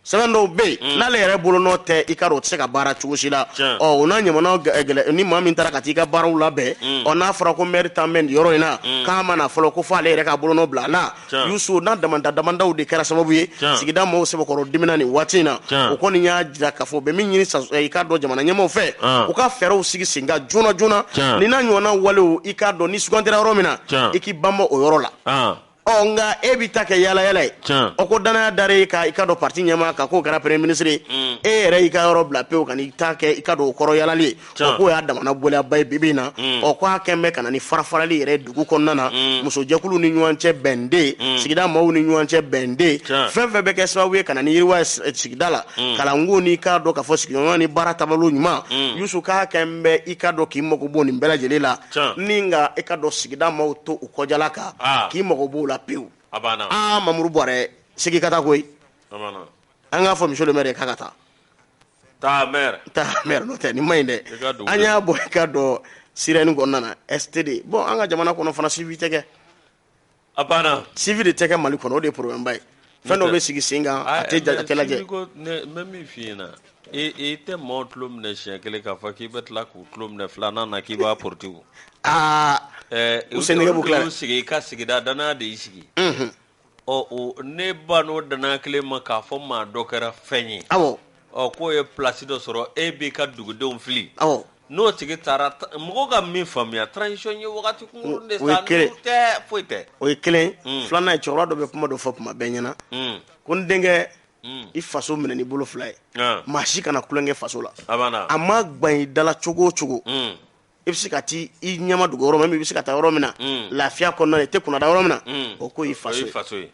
sɛbɛn dɔw bɛ yen hmm. n'ale yɛrɛ bolo nɔ tɛ i ka dɔn o tɛ se ka baara cogo si la ɔ o n'a ɲɔgɔnnaw gɛlɛ ni maa min taara ka taa i ka baaraw labɛn hmm. ɔ n'a fɔra ko mɛri taalen bɛ nin yɔrɔ in na hmm. k'a ma na fɔlɔ ko fɔ ale yɛrɛ ka bolo nɔ bila a la yusu n'a damanda damandaw de kɛra sababu ye sigida maaw sɛbɛkɔrɔ dimina nin waati in na o kɔni y'a jira k'a fɔ u bɛ min ɲini eh, i k'a dɔn jamana ɲɛmaaw fɛ ah. u ka fɛɛrɛw sigi sen kan joona joona ni n'a ɲɔgɔnna walew i k'a dɔn n'i sugandira yɔrɔ min na i k'i banban o yɔrɔ la ah. ɔ nka e bɛ ta kɛ yalayala ye o ko danaya dara e ka i ka dɔn parti ɲɛmaa kan k'o kɛra premier ministre ye mm. e yɛrɛ y'i ka yɔrɔ bila pewu ka n'i ta kɛ i ka dɔn o kɔrɔ yalali ye o k'o y'a damana gɛlɛyaba ye bi bi in na mm. ɔ k'a kɛn bɛ ka na ni farafarali yɛrɛ dugu kɔnɔna na mm. musojɛkuluw ni ɲɔgɔn cɛ bɛn tɛ yen sigida maaw ni ɲɔgɔn cɛ bɛn tɛ yen fɛn fɛn bɛ kɛ sababu ye ka na ni yiriwa ye sigida la kalanko n'i k'a dɔn k'a fɔ sigiɲɔgɔnya ni baara taabolo ɲuman yusu k'a kɛn bɛ i ka dɔn k'i mago bɔ nin bɛɛ lajɛlen la ni nka i ka dɔn sigida maaw to u kɔjala kan k'i mago b'o la pewu mamudu buware segin ka taa koyi an k'a fɔ monsieur le maire k'a ka taa taa n'o tɛ nin man ɲi dɛ an y'a bɔ i ka dɔn sirène kɔnɔna STD bon an ka jamana kɔnɔ fana suivi tɛ kɛ A banna suivi de tɛ kɛ mali kɔnɔ o de ye problème ba ye fɛn dɔ bɛ sigi sen kan a tɛ lajɛ n bɛ min fɔ i ɲɛna na e tɛ maaw tulo minɛ siɲɛ kelen k'a fɔ k'i bɛ tila k'u tulo minɛ filanan na k'i b'a porote aa u sen bɛ sigi i ka sigida danaya de y'i sigi ɔ n'e bann'o danaya kelen ma k'a fɔ maa dɔ kɛra fɛn ye aw ɔ k'o ye place dɔ sɔrɔ e b'i ka dugudenw fili, awɔ, n'o tigi taara mɔgɔw ka min faamuya transition ye wagati kunkurunni de sa, n'o tɛ foyi tɛ, o ye kelen ye, un, filanan ye cɛkɔrɔba dɔ bɛ kuma dɔ fɔ tuma bɛɛ n ɲɛna, un, ko n denkɛ Mm. i faso minɛ n'i bolo fila ye ah. maa si kana tulonkɛ faso la a ma gban i dala cogo o cogo mm. i bɛ se ka taa i ɲɛmadogo yɔrɔ min i bɛ se ka taa yɔrɔ min na mm. lafiya kɔnɔna i tɛ kunnada yɔrɔ min na o ko y'i faso ye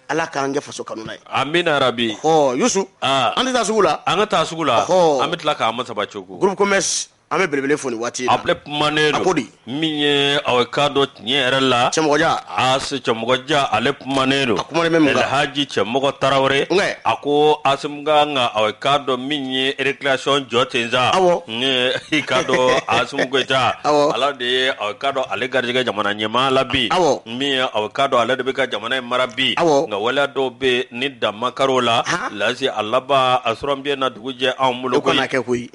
ala k'an kɛ faso kanuna ye amina yarabi ɔ yusu an tɛ taa sugu la an ka taa sugu la an bɛ tila k'an ma saba cogo groupe commerce an bɛ belebele fo nin waati a filɛ kumanen don min ye aw ka dɔn tiɲɛ yɛrɛ la cɛmɔgɔja a se cɛmɔgɔja ale kumanen don a kuma bɛ elhaji cɛmɔgɔ tarawele a ko asimu k'an ka aw ka dɔn min ye récréation jɔ ten sa aw i ka dɔn asimu goyita ala de ye aw ka dɔn ale garijɛgɛ jamana ɲɛmaaya la bi aw min ye aw ka dɔn ale de bɛ ka jamana in mara bi nka waleya dɔw bɛ ni dan ma kar'o la lase a laban a sɔrɔ bɛ na dugu jɛ anw bolo kana kɛ koyi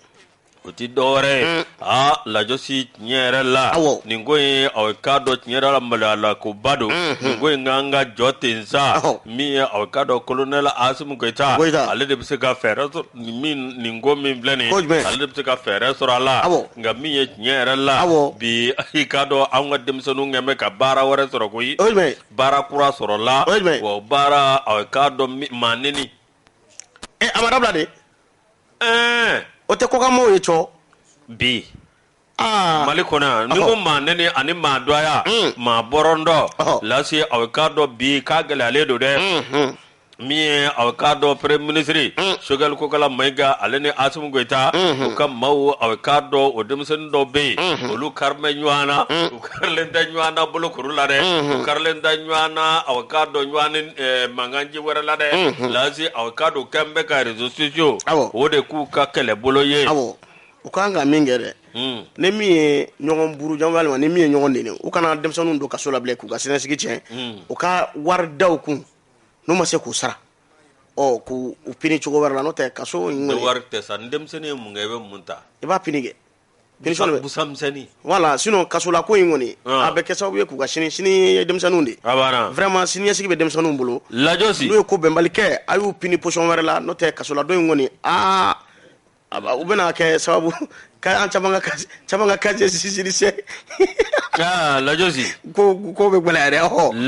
o tɛ dɔwɛrɛ ye aa lajɔsi tiɲɛ yɛrɛ la nin ko in aw ka dɔn tiɲɛ yɛrɛ la maloya la ko ba don nin ko in k'an k'a jɔ ten sa min ye aw ka dɔn kolonɛli asimu goyita ale de bɛ se ka fɛɛrɛ nin ko min filɛ nin ale de bɛ se ka fɛɛrɛ sɔrɔ a la nka min ye tiɲɛ yɛrɛ la bi i k'a dɔn an ka denmisɛnninw kɛn bɛ ka baara wɛrɛ sɔrɔ koyi baara kura sɔrɔla wa baara k'a dɔn maa neni a ma dabila dɛ ɛɛ o tɛ kɔkanmaw ye cɔ bi mali kɔnɔ yan n'i ko maa neni ani maa dɔya maa bɔrɔndɔ lasi aw k'a dɔn bi k'a gɛlɛyalen don dɛ min ye a k'a dɔn premier ministre sogɛli kokala mayiga ale ni asimu goyita u ka maaw a k'a dɔn o denmisɛnnin dɔw bɛ yen olu karilen bɛ ɲɔgɔn na u karilen tɛ ɲɔgɔn na bolokuru la dɛ u karilen tɛ ɲɔgɔn na a k'a dɔn ɲɔgɔn ni eh, mankanci wɛrɛ la dɛ lasi a k'a dɔn k'an bɛ ka réseaux sociaux Awɔ. o de k'u ka kɛlɛbolo ye awɔ u ka kan ka min kɛ dɛ Mm. ni min ye ɲɔgɔn buruja walima ni min ye ɲɔgɔn neni u kana denmisɛnninw don kaso la bilen k'u ka siniɲɛsigi tiɲɛ u ka wari da u kun n'u ma se k'u sara ɔ k'u u pini cogo wɛrɛ la n'o tɛ kaso in kɔni wari tɛ sa ni denmisɛnnin ye mun kɛ i bɛ mun ta i b'a pini kɛ punition de bɛ busan misɛnnin voilà sinon kasola ko in kɔni Ah. a bɛ kɛ sababu ye k'u ka sini sini ye denmisɛnninw de ye a banna vraiment siniɲɛsigi bɛ denmisɛnninw bolo lajosi n'u ye ko bɛnbali kɛ a y'u pini punition wɛrɛ la n'o tɛ kasoladon in kɔni aa O bɛna kɛ sababu ka caman ka casier judiciaire tiɲɛ lajosi ko ko bɛ gɛlɛya dɛ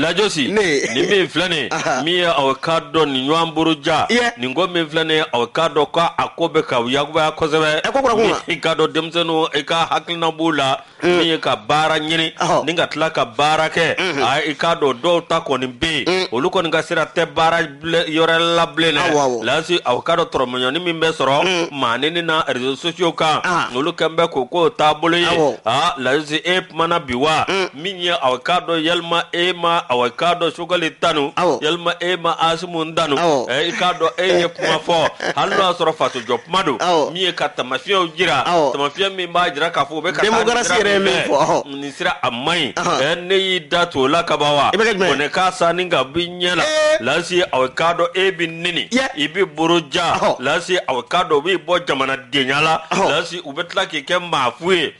lajosi ne nin min filɛ nin min ye aw ka dɔn nin ɲɔgɔn buruja nin ko min filɛ nin aw ka dɔn k' a ko bɛ ka kobaya kosɛbɛ e ko i ka dɔn denmisɛnnin i ka hakilina b'o la min ye ka baara ɲini Ɔhɔ. ni ka tila ka baara kɛ a i k'a dɔn dɔw ta kɔni bɛ yen olu kɔni ka sira tɛ baara ble- yɔrɔ la bilen Awɔ, awɔ. dɛ lasi aw k'a dɔn dɔrɔmɛ dɔɔnin min bɛ sɔrɔ maa neni na réseaux sociaux kan Ah. olu kɛn bɛ k'o k'u taabolo ye Awɔ. a lasi e kumana bi wa min ye aw k'a dɔn yalima e ma aw k'a dɔn sogɛli tanu Awɔ. yalima e ma asimu tanu Awɔ. ɛ, i k'a dɔn e ye kuma fɔ hali n'o y'a sɔrɔ fasojɔ kuma don Awɔ. min ye ka taamasiyɛnw jira Awɔ. taamasiyɛn min b'a jira k'a fɔ o bɛ ka taa Démocratie nin sira yɛrɛ ye min min fɛ, fɔ, ɔhɔ. nin sira a man ɲi Ahan. Ɛ, ne y'i da to o la ka ban wa I bɛ kɛ jumɛn ye? Ko ne k'a san ni ka bi ɲɛ la Ee. lasi aw k'a dɔn e bɛ neni Yɛ. i bɛ buruja Ɔhɔ. lasi aw k'a dɔn u b'i bɔ jamanadenya la Ɔhɔ. lasi u bɛ tila k'i kɛ maafu ye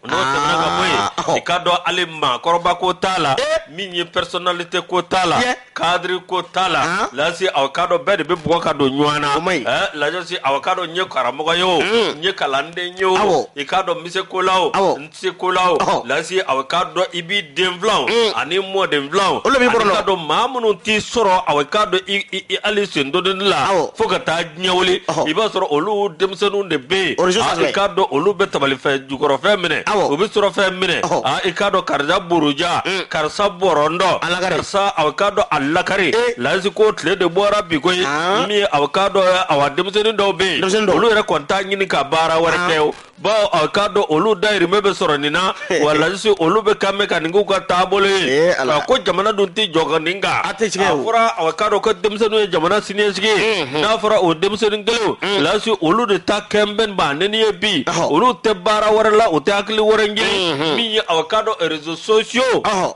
n'o tɛmɛna ka bɔ yen Aa, ɔhɔ. i k'a dɔn hali maakɔrɔba ko t'a la Ee. min ye personnalité ko t'a la Yɛ. cadre ko t'a la An? lasi aw ka dɔn bɛɛ de bɛ bugɔ ka don ɲɔgɔn na O man ɲi. Eh, lajɔsi aw ka dɔn n ye karamɔgɔ ye o Mm. n ye kalanden ye o Awɔ. i k'a dɔn n bɛ se ko la o Awɔ. n tɛ se ko la o Ɔhɔ. lasi aw ka dɔn i b'i den filanw Mm. ani mɔden filanw Olu b'i bɔrɔndɔ. k'a dɔn maa minnu t'i sɔrɔ aw k'a dɔn i- i i- hali sendodonni la Awɔ. fo ka taa diɲɛ wuli i b'a sɔrɔ olu denmisɛnninw de bɛ yen i k'a dɔn olu bɛ tabalifɛn jukɔrɔfɛn minɛ u bɛ surɔfɛn minɛ i k'a dɔn karisa buruja mm. karisa bɔrɔndɔ karisa a k'a dɔn a lakari eh. lasi ko tile de bɔra bi ko ye min a k'a dɔn a denmisɛnnin dɔw bɛ yen olu yɛrɛ kɔni t'a ɲini ka baara wɛrɛ kɛ o bawo aw k'a dɔn olu dayirimɛ bɛ sɔrɔ nin na wa là aussi olu bɛ quand même ka nin k'u ka taabolo ye Ee, Ala. nka ko jamana dun tɛ jɔ ka nin kan A tɛ tiɲɛ a o. fɔra aw k'a dɔn ko denmisɛnninw ye jamana siniɲɛsigi ye n'a fɔra o denmisɛnnin kelenw là aussi olu de ta kɛnbɛn ba nɛni ye bi Ɔhɔ. olu tɛ baara wɛrɛ la u tɛ hakili wɛrɛ ɲini min ye aw k'a dɔn réseaux sociaux Ɔhɔ.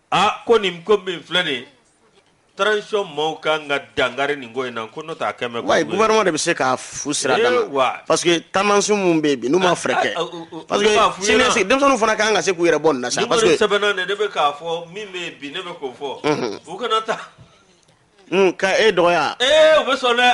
A ko nin ko min filɛ de transition maaw ka kan ka dankari nin ko in na ko n' ta quand même gouvernement de bɛ se ka fu siri a dan parce que taamansiw minnu bɛ bi n'u ma fɛɛrɛ kɛ denmisɛn fana ka kan ka se k'u yɛrɛ bɔ nin na sa sɛbɛn ne bɛ k'a fɔ min bɛ bi ne bɛ k'o fɔ u kana taa ka e dɔgɔya u bɛ sɔn dɛ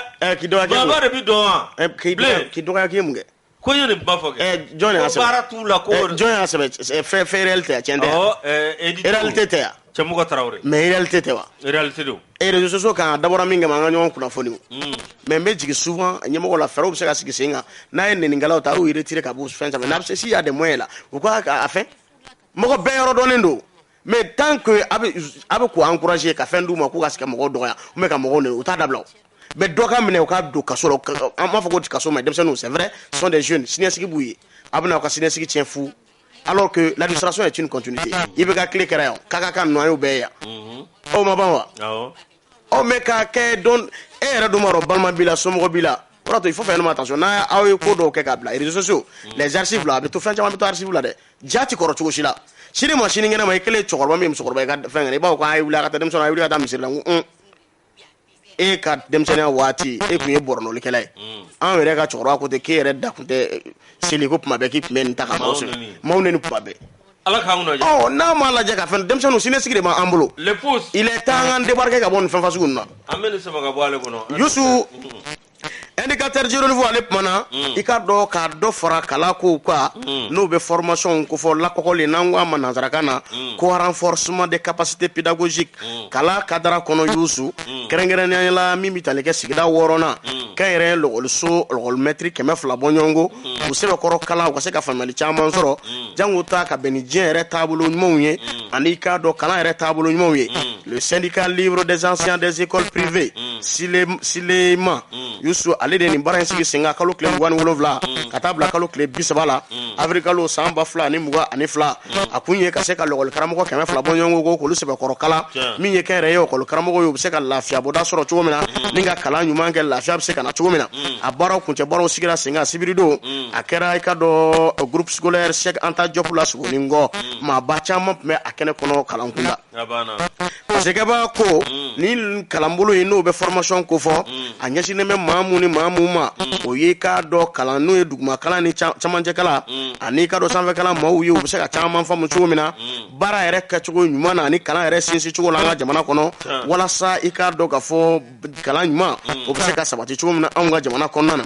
dɔgɔ de bɛ dɔn dɔgɔya k'i mun kɛ ko ye nin kuma fɔ kɛ ɛ jɔn de y'a ko sɛbɛn baara t'u la ko Ɛ, jɔn y'a sɛbɛn Ɛ, fɛ fɛ réalité a tiɲɛ tɛ Awɔ, ɛ, Edi Togo. réalité tɛ yan cɛmɔgɔ tarawele mais réalité tɛ wa réalité don et réseaux sociaux kan a dabɔra min kama an ka ɲɔgɔn kunnafoni o Mm. mais n bɛ jigi souvent ɲɛmɔgɔ la fɛɛrɛw bɛ se ka sigi sen kan n'a ye nɛninkɛlaw ta a y'u retirer ka bɔ fɛn sanfɛ n'a bɛ se si y'a des moyens là u ka a fɛn mɔgɔ bɛɛ yɔrɔ dɔnnen don mais tant que a bɛ a bɛ k'u encourager ka fɛn d'u ma k'u ka se ka mɔgɔw dɔgɔya ou bien ka mɔgɔw nɛni u t'a dabila o mais dɔ ka minɛ u ka don kaso la an b'a fɔ ko kaso mais denmisɛnninw c'est vrai ce sont des jeunes siniɲɛsigi b'u ye a bɛna u ka siniɲɛsigi tiɲɛ fu alors que l'administration est une continuité IBK tile kɛra yan kaka kan ninnu an y'u bɛɛ ye yan o ma ban wa aw mɛ k'a kɛ don e yɛrɛ dun b'a dɔn balima b'i la somɔgɔ b'i la o y'a to il faut faire attention n'a aw ye ko dɔw kɛ k'a bila réseaux sociaux les archives la a bɛ to fɛn caman bɛ to archive la dɛ ja tɛ kɔrɔ cogo si la sini ma sinikɛnɛ ma i kɛlen ye cɛkɔrɔba min ye musokɔrɔba ye ka fɛn kɛnɛ i b'a fɔ ko a ye wuli a ka taa denmisɛnnin a ye wuli ka taa misiri la n ko un e ka denmisɛnninya waati e tun ye pornolikɛla ye an yɛrɛ ka cɛkɔrɔba ko ten k'e yɛrɛ da tun tɛ seli ko tuma bɛɛ k'i tun bɛ nin ta ka maaw seli maaw nɛni tuma bɛɛ Ala k'an kunajɛ. Ɔ n'a m'a lajɛ ka fɛn denmisɛnninw siniɲɛsigi de b'an bolo. Le pouce. Il est temps an débarquer ka bɔ nin fɛnfasugu ninnu na. An bɛ nin sama ka bɔ ale kɔnɔ. Youssou. Indicateur du Renouveau ale kumana i k'a dɔn ka dɔ fara kalan kow kan n'o bɛ formation kofɔ lakɔkɔli n'an k'a ma nansarakan na ko renforcement des capacités pédagogiques mm. kalan kadara kɔnɔ yusu mm. kɛrɛnkɛrɛnnenya la min bɛ tali kɛ sigida wɔɔrɔnan mm. kɛn yɛrɛ lɔgɔliso lɔgɔlimɛtiri kɛmɛ fila bɔɲɔgɔnko u sɛbɛkɔrɔ kalan u ka se ka faamuyali caman sɔrɔ jango ta ka bɛn ni diɲɛ yɛrɛ taabolo ɲumanw ye ani k'a dɔn kalan yɛrɛ taabolo ɲumanw ye le syndicat libre des enseignants des écoles privées silema yusu ale de nin baara in sigi sen kan kalo tile mugan ni wolonwula ka taa bila kalo tile bi saba la avril kalo san ba fila ani mugan ani fila a kun ye ka se ka lɔgɔli karamɔgɔ kɛmɛ fila bɔɲɔgɔnko k'olu sɛbɛkɔrɔ kalan min ye kɛ yɛrɛ ye lɔgɔli karamɔgɔ ye u bɛ se ka lafiyabɔda sɔrɔ cogo min na mm. ni ka kalan ɲuman kɛ lafiya bɛ se ka na cogo min na mm. a baaraw kuncɛ baaraw sigira sen kan sibiridon mm. a kɛra i k'a dɔn groupe scolaire Cheikh Anta Diop la Sogonikɔ maaba caman tun bɛ a kɛnɛ kɔnɔ kalankunda Parce que ba ko mm. ni kalanbolo in n'o bɛ formation kofɔ mm. a ɲɛsinnen bɛ maa minnu ni maa minnu ma mm. o ye i k'a dɔn kalan n'o ye duguma kalan ni camancɛ kalan ani i k'a dɔn sanfɛ kalan maaw ye u bɛ se ka caman faamu cogo min na baara yɛrɛ kɛcogo ɲuman na ani kalan yɛrɛ sinsin cogo la an ka jamana kɔnɔ walasa i k'a dɔn k'a fɔ kalan ɲuman o bɛ se ka sabati cogo min na anw ka jamana kɔnɔna na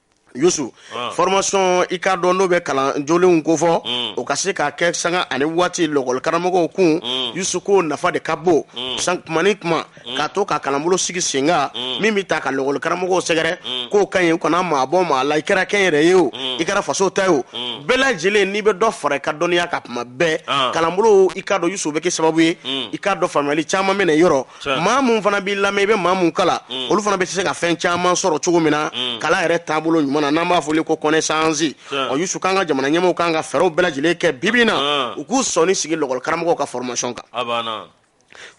yusu ah. formation i k'a dɔn n'o bɛ kalan jolenw kofɔ mm. o ka se ka kɛ sanga ani waati lɔgɔli karamɔgɔw kun mm. yusu k'o nafa de ka bon mm. san kuma ni kuma ka to ka kalanbolo sigi senkan min bɛ ta ka lɔgɔli karamɔgɔw sɛgɛrɛ k'o ka ɲi u kana maa bɔ maa la i kɛra kɛnyɛrɛye o i kɛra faso ta ye o bɛɛ lajɛlen n'i bɛ dɔ fara i ka dɔnniya kan kuma bɛɛ ah. kalanbolo i k'a dɔn yusu bɛ kɛ sababu ye i k'a dɔn faamuyali caman bɛ na yɔrɔ maa mun fana b'i lamɛn i bɛ maa mun kalan mm. olu fana bɛ se ka fɛn caman sɔrɔ cogo min na mm. kalan yɛrɛ taabolo ɲuman na n'an b'a fɔli ko connaissance ɔ yusu k'an ka jamana ɲɛmɔgɔw kan ka fɛɛrɛw bɛɛ lajɛlen kɛ bibi na ah. u k'u sɔnni sigi lɔgɔli karamɔgɔw ka formation kan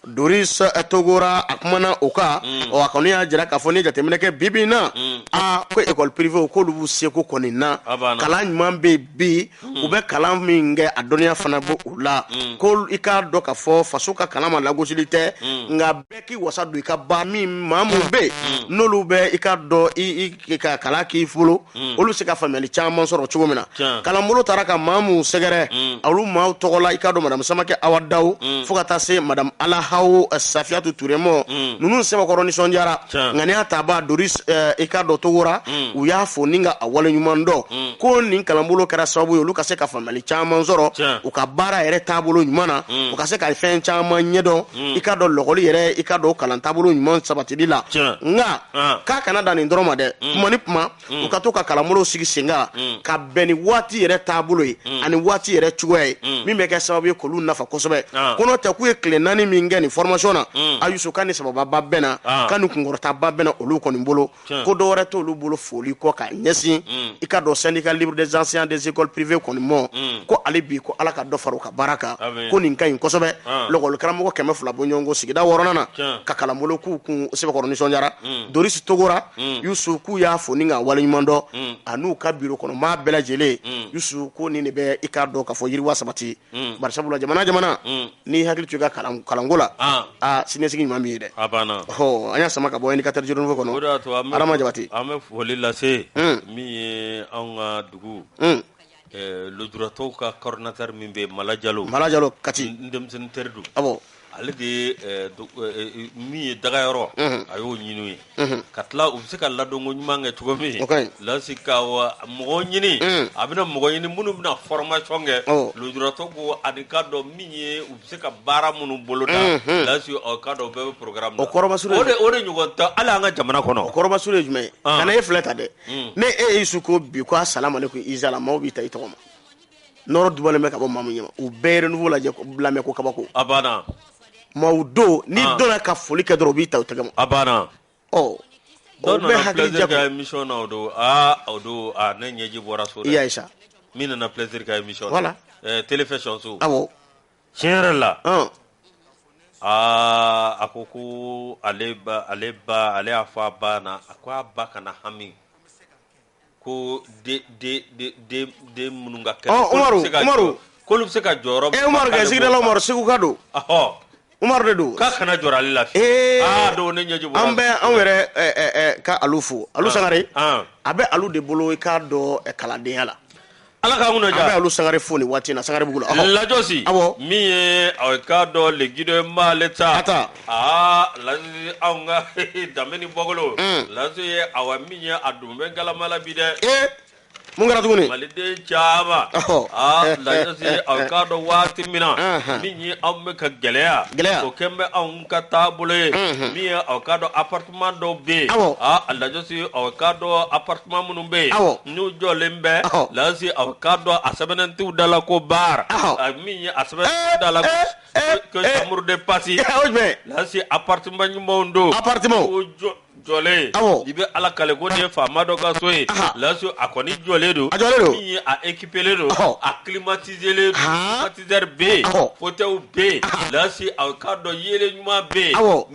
doris eh, togora a kumana o kan mm. ɔ a kɔni y'a jira k'a fɔ ni jateminɛ kɛ bibi na a ko école privéew k'olu b'u seko kɔni na kalan ɲuman bɛ bi Hmm. u bɛ kalan min kɛ a dɔnniya fana bɔ u la hmm. ko i k'a dɔn k'a fɔ faso ka kalan ma lagosili tɛ hmm. nka bɛɛ k'i wasa don i ka ba min maa min bɛ yen n'olu bɛ i k'a dɔn i ka kalan k'i bolo olu se ka faamuyali caman sɔrɔ cogo min na kalanbolo taara ka maa minnu sɛgɛrɛ olu maaw tɔgɔ la i k'a dɔn madamu samakɛ awa dawu fo ka taa se madamu alahaw eh, safiyatu ture mɔ ninnu sɛbɛkɔrɔ nisɔndiyara ŋaniya tabaa doris eh, i k'a dɔn togora u y'a fo ni ka a waleɲuman dɔn mm. ko nin kalanbolo kɛra sababu ye olu ka se ka faamuyali caman sɔrɔ u ka baara yɛrɛ taabolo ɲuman na mm. u ka se ka fɛn caman ɲɛdɔn mm. i k'a dɔn lɔgɔli yɛrɛ i k'a dɔn kalan taabolo ɲuman sabatili la nka ah. k'a kana dan nin dɔrɔn ma dɛ kuma ni kuma u ka to ka kalanbolow sigi senkan ka bɛn ni waati yɛrɛ taabolo ye ani waati yɛrɛ cogoya ye min bɛ kɛ sababu ye k'olu nafa kosɛbɛ ah. ko n'o tɛ k'u ye tile naani min kɛ nin formation na a yusu k'a ni sabababa bɛnna ah. k'a ni kunkɔrɔtaba bɛnna olu kɔni bolo ko dɔ wɛrɛ t'olu bolo foli kɔ ka ɲɛsin mm. i k'a dɔn syndicat libre des enseignants des écoles privées kɔni mɔ mm. ko ale bi ko ala ka dɔ fara u ka baara kan ko nin ka ɲi kosɛbɛ ah. lɔgɔli karamɔgɔ kɛmɛ fila bɔ ɲɔgɔn ko sigida wɔɔrɔnan na ka kalanbolo k'u kun sɛbɛkɔrɔ nisɔndiyara mm. doris togora yusu k'u y'a fo ni ka waleɲuman dɔn ani u ka biro kɔnɔ maa bɛɛ lajɛlen yusu ko nin de bɛ i k'a dɔn k'a fɔ yiriwa sabati Mm. bari sabula jamana jamana mm. n'i hakili to i ka kalanko la ah. ah, siniɲɛsigi ɲuman b'i ye dɛ hɔ an y'a sama ka bɔ indicateur du renouveau kɔnɔ adama jabate an bɛ foli lase mm. min ye anw ka dugu eh, lujuratɔw ka coordinateur min bɛ yen mala jalo mala jalo kati n denmisɛnnin teri don Ale de ye eh, do- eh, eh, min ye dagayɔrɔ Unhun. a y'o ɲini u ye Unhun. ka tila u bɛ se ka ladonko ɲuman kɛ cogo min O ka ɲi. lasi ka wa mɔgɔ ɲini Mm. a bɛna mɔgɔ ɲini minnu bɛna formation kɛ Ɔ. lujuratɔ ko ani k'a dɔn min ye u bɛ se ka baara minnu boloda Mhm. lasi ɔ, k'a dɔn u bɛɛ bɛ programme O kɔrɔmasuru ye- o de o de ɲɔgɔn tɛ hali an ka jamana kɔnɔ kɔrɔmasuru ye jumɛn ye Ah. kana e filɛ ta dɛ Mm. ne e y'i su ko bi ko assalamu aleykum izala maaw b'i ta i tɔgɔ ma nɔrɔ dubalen bɛ ka bɔ maa min ɲɛma u bɛ renouveau lajɛ lamɛn ko kabako a banna maaw don ni ah. donna ka foli kɛ dɔrɔn u b'i ta u tɛgɛ ma a banna ɔ dɔw bɛ hakili jago ka émission na o don aa o don ne ɲɛji bɔra so i y'a ye sa min nana plaisir ka émission voilà télévision so awɔ tiɲɛ yɛrɛ la aa a ko ko ale ale ba ale y'a fɔ a ba na a ko a ba kana hami ko den minnu ka kɛnɛ k'olu bɛ se ka jɔyɔrɔ umaru kɛ sigida la umaru segu ka don umaru de don k'a kana jɔrɔ ale la ee don ne ɲɛji bɔra an bɛ anw yɛrɛ ka alu fo alu sangare a bɛ alu de bolo i k'a dɔn kalandenya la ala k'an kunna ja an bɛ alu sangare fo nin waati in na sangarebugu la ɔhɔ. lajɔsi Awɔ. min ye aw k'a dɔn le guido ye m'ale ta A ta. aa lasi anw ka danbe ni bɔkolo Mm. lasi ye awa min ye a dun bɛ galama la bi dɛ ee mun kɛra tuguni maliden caman Ɔhɔ. aa lajɔsi ye aw k'a dɔn waati min na Ahan. min ye anw bɛ ka gɛlɛya Gɛlɛya. o kɛn bɛ anw ka taabolo ye Mhm. min ye aw k'a dɔn apart Kuma dɔw bɛ yen a lajɛsi k'a dɔn a pa minnu bɛ yen n'u jɔlen bɛ lasi a k'a dɔn a sɛbɛn t da la ko baara min a sɛbɛn da la muru de pasi lasi a pa ɲuman don a pa jɔ jɔlen i bɛ ala kale ko ye faama dɔ kaso ye lasi a kɔni jɔlen don a ekipele don a kibatiele bɛ yen ko tɛ bɛ yen lasi a k'a dɔn ye ɲuman bɛ yen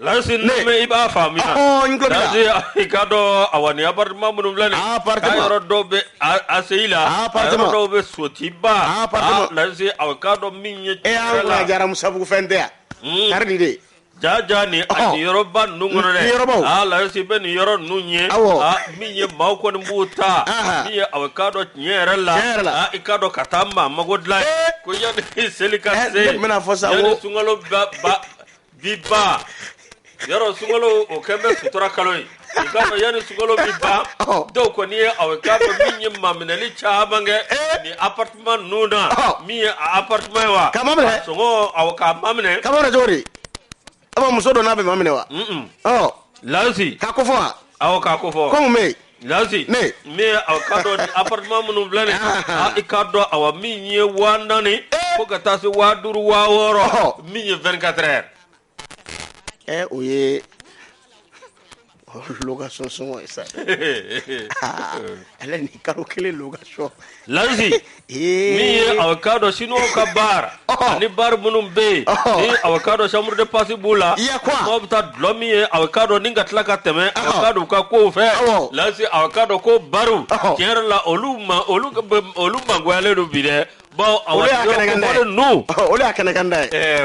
Lasi n'i b'a faamu i k'a dɔn awa nin appartement minnu filɛ nin ye a yɔrɔ dɔw bɛ ACI la dɔw bɛ sotuba lasi aw k'a dɔn min ye e jara musabugu fɛn tɛ yan kari de ja ja nin yɔrɔba ninnu kɔnɔ lasi bɛ nin yɔrɔ ninnu ye min ye maaw kɔni b'u ta aw k'a dɔn tiɲɛ yɛrɛ la i k'a dɔn ka taa maa mago dilan ko yanni seli ka se ne bɛna a fɔ sa yanni sunkalo ba bi ban yɔrɔ sunkalo o kɛn bɛ sutura kalo ye i k'a dɔn yanni sunkalo bi ban Ɔhɔ. dɔw kɔni ye aw k'a dɔn min ye maminɛli caman kɛ Eh. nin appartement ninnu na Ɔhɔ. min ye a appartement ye wa Ka maminɛ. a sɔngɔ awɔ k'a maminɛ k'a maminɛ cogo di ama muso don a bɛ maminɛ wa Mm-mm. ɔ lajɔsi k'a ko fɔ wa awɔ k'a ko fɔ ko mun bɛ yen Lasi ne min aw ka dɔn appartement minnu filɛ i ka dɔn awa min ye waa naani fo ka taa se waa duuru waa wɔɔrɔ min ye vingt-quatre heures o ye location sɔngɔ ye sa ale ni kalo kelen location Lasi min ye aw ka dɔn Chinois ka bar ani bar minnu bɛ yen ni aw ka dɔn chambre de passe b'u la maaw bɛ taa dulɔ min yen aw ka dɔn ni ka tila ka tɛmɛ aw ka dɔn u ka ko fɛ lasi aw ka dɔn ko baru tiɲɛ la olu olu mangoyalen don bi dɛ baw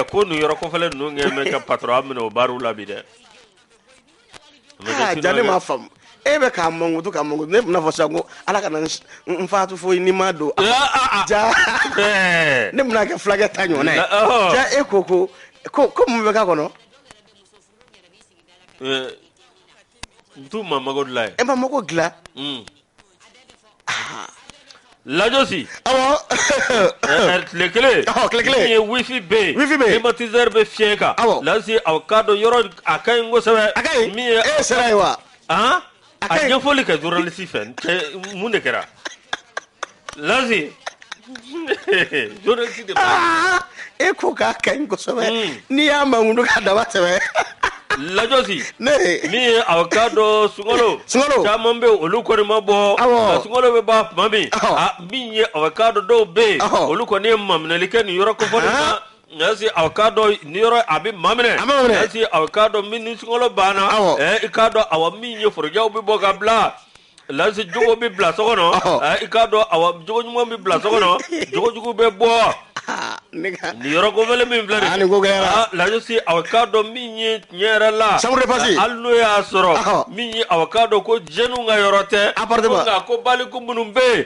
ko nin yɔrɔ kofɔlen ninnu kɛ ka patɔ minɛ o baruw la bi dɛ ja ne m'a faamu e bɛ k'a mankutu k'a mankutu ne bɛna fɔ sisan ko Ala kana n faatu fo n'i ma don ja ne bɛna kɛ fulakɛ ta ɲɔgɔnna ye ja e ko ko ko ko mun bɛ k'a kɔnɔ tu ma mago dilan ye e ma mago dilan lajɔsi tile kelen min ye wifi bɛ yen climatiseur bɛ fiyɛ kan lajɔsi aw ka dɔn yɔrɔ a ka ɲi kosɛbɛ a e sera yen wa a ɲɛfɔli kɛ journaliste fɛ mun de kɛra Lasi journaliste de b'a Aa e ko k'a ka ɲi kosɛbɛ Mm. n'i y'a mankutu k'a dama tɛmɛ lajɔsi ne min ye aw ka dɔn sunkalo Sunkalo. caman bɛ yen olu kɔni ma bɔ Awɔ. nka sunkalo bɛ ban tuma min Awɔ. a min ye aw ka dɔn dɔw bɛ yen Awɔ. olu kɔni ye maminɛli kɛ nin yɔrɔ kofɔlen Ahan. na lasi aw ka dɔn nin yɔrɔ a bɛ maminɛ A bɛ maminɛ. lasi aw ka dɔn min ni sunkalo banna Awɔ. ɛ i k'a dɔn awa min ye forojɛw bɛ bɔ ka bila Lasi jogo bɛ bila so kɔnɔ i k'a dɔn awa jogo ɲuman bɛ bila so kɔnɔ jogo jugu bɛ bɔ nin yɔrɔ kofɔlen min filɛ lasi aw ka dɔn min ye tiɲɛ yɛrɛ la chambre de passe hali n'o y'a sɔrɔ min ye aw ka dɔn ko jeunes ka yɔrɔ tɛ nka ko baliku minnu bɛ yen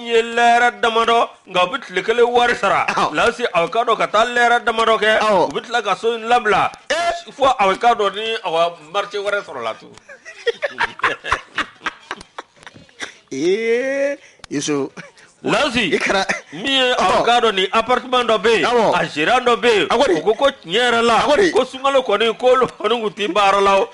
n ye lɛrɛ damadɔ nka u bɛ tile kelen wari sara Awɔ. lasi aw ka dɔn ka taa lɛrɛ damadɔ kɛ Awɔ. u bɛ tila ka so in labila fo aw ka dɔn ni aw marché wɛrɛ sɔrɔla tun ee iso lasi i kɛra min ye Awɔ. aw ka dɔn nin appartement dɔ bɛ yen Awɔ. a gérant dɔ bɛ yen A ko de. u ko ko tiɲɛ yɛrɛ la A ko de. ko sunkalo kɔni k'olu kɔni tun tɛ baara la o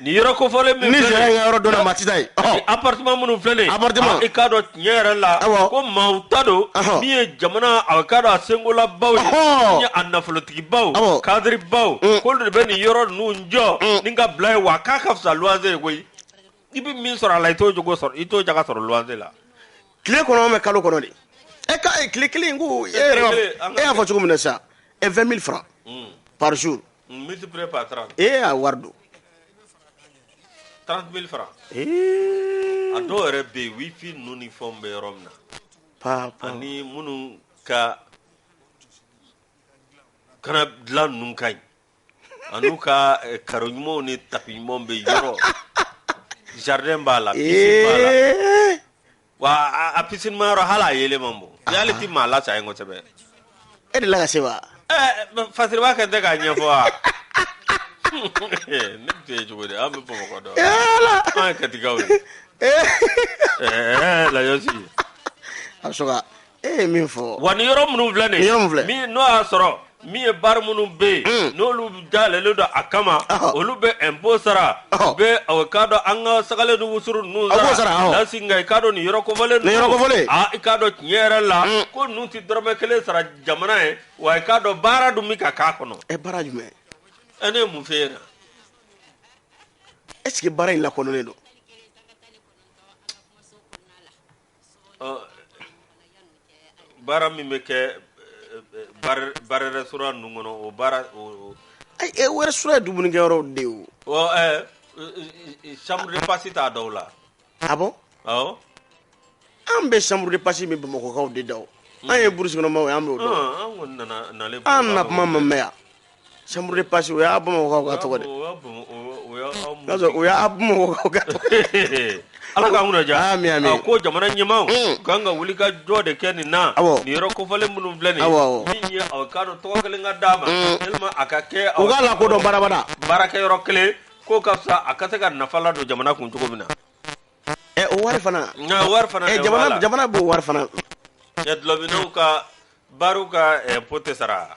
Nin yɔrɔ kofɔlen min ni filɛ sariya nin ye, kɛ yɔrɔ dɔ la maa tɛ taa yen ɔhɔ. appartement minnu filɛ nin ye, Appartement. a- i k'a dɔn tiɲɛ yɛrɛ la Awɔ. ko maaw ta don Ɔhɔ. min ye jamana a k'a dɔn a senkolabaw ye Ɔhɔ. min ye a nafolotigibaw Awɔ. kadiribaw Mm. k'olu de bɛ nin yɔrɔ ninnu jɔ Mm. ni ka bila ye wa k'a ka fisa luwanze ye koyi i bɛ min sɔrɔ a la i t'o jogo sɔrɔ i t'o jaga sɔrɔ luwanze la tile kɔnɔ mɛ kalo kɔnɔ de e ka e tile kelen ko e yɛrɛ kelen, an b'a- ka- e y'a fɔ cogo min na sisan e 20 000 francs par jour ee a wari don a dɔw yɛrɛ bɛ yen wifi ninnu ni fɛnw bɛ yɔrɔ min na ani minnu ka kana dilan ninnu ka ɲi an'u ka eh, karo ɲumanw ni tapi ɲumanw bɛ yɔrɔ jardin b'a la piscine b'a la eh. Wa a piscine ma yɔrɔ hali a yeelen man bon yeelen tɛ maa la sa ye kosɛbɛ e delila ka se wa fasiri b'a kɛ tɛ k'a ɲɛfɔ wa ne tɛ ye cogo di an bɛ bamakɔ dɔn an ye katikaw ye lajɛsi a bɛ e ye min fɔ wa ni yɔrɔ minnu filɛ nin ye Yɔrɔ min filɛ. min n'o y'a sɔrɔ min ye bar minnu bɛ yen Mm. n'olu dayɛlɛlen don a kama Ɔhɔ. olu bɛ impôt sara Ɔhɔ. u bɛ ɔ, k'a dɔn an ka sagalen ni wusuru ninnu A b'o sara, awɔ. lasi nka i k'a dɔn nin yɔrɔ kofɔlen Nin yɔrɔ kofɔlen. a i k'a dɔn tiɲɛ yɛrɛ la Mm. ko ninnu tɛ dɔrɔmɛ kelen sara jamana ye wa i k'a dɔn baara dun bɛ ka k'a kɔnɔ ɛ baara jumɛn ɛ ne ye mun f'e ɲɛna est ce que baara in lakodɔnnen don baara min bɛ kɛ baarɛrɛ su ninnu kɔnɔ o baara wɛrɛ su ye dumunikɛ de o samuru pasi t'a da la a an bɛ samururi pasi min bamakɔkaw de da an yeurukɔnɔma an nana kuma ma yan Chambre de passe o y'a bamakɔkaw ka tɔgɔ de o y'a ala ka mɛ ko jamana ɲɛmaw ka kan ka wuli ka jɔ de kɛ nin na yɔrɔ kofɔlen minnu filɛ nin min ye k'a dɔn tɔgɔ kelen ka d'a ma a ka kɛ lakodɔn barabara baarakɛyɔrɔ kelen ko ka a ka se ka nafa ladon jamana kun cogo min na o wari jamana b'o wari dulɔ ka ka impôt sara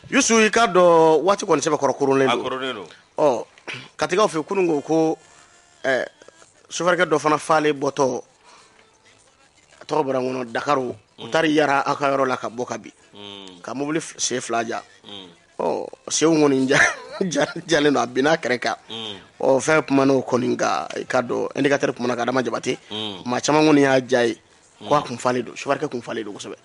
Yusu i k'a dɔn waati kɔni sɛbɛkɔrɔ koronnen don, a koronnen don, ɔ katikaw fɛ kunun ko ko ɛ sofɛrikɛ dɔ fana falen bɔtɔ a tɔgɔ bɔra n kɔnɔ Dakaru u mm. taara yara aw ka yɔrɔ la ka bɔ ka bin mm. ka mobili sen fila ja mm. ɔ senw kɔni ja jalen don a binna kɛrɛ kan ɔ fɛn kumana o kɔni kan i k'a dɔn indicateur kumana ka Adama Jabate maa caman kɔni y'a ja ye ko a kun falen don sofɛrikɛ kun falen don kosɛbɛ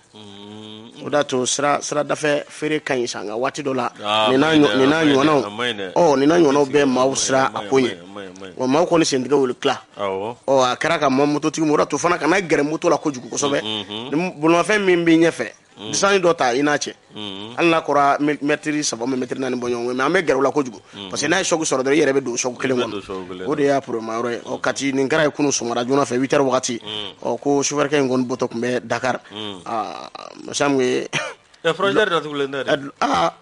o de y'a to sira siradafɛ feere ka ɲi sa nka waati dɔ la Ah, nin n'a a ma ɲi ɲɔ- dɛ, nin n'a a ma ɲi dɛ, ɲɔgɔnnaw a ma ɲi dɛ. ɔ nin n'a ɲɔgɔnnaw bɛ maaw siran a ko ɲɛ wa maaw kɔni sentigɛ wuli tila awɔ ɔ a kɛra ka ma mototigi o de y'a to fana kana gɛrɛ moto la kojugu kosɛbɛ ni bolimafɛn min b'i ɲɛfɛ Mm. Distance dɔ ta i n'a cɛ. Mm. Hali n'a kɔra mètre saba ou bien mètre naani bɔ ɲɔgɔn kɔ mais an bɛ gɛrɛ u la kojugu. Mm. Parce que n'a ye choc sɔrɔ dɔrɔn i yɛrɛ bɛ don o choc kelen kɔnɔ. O de y'a problème yɔrɔ ye. Ɔ Kati nin kɛra yen kunun sɔgɔmada joona fɛ 8 heures wagati. Ɔ ko chauffeur kɛ in kɔni bɔtɔ tun bɛ Dakar. Aa masa min ye. Ɛ frontière datugulen tɛ dɛ. Aa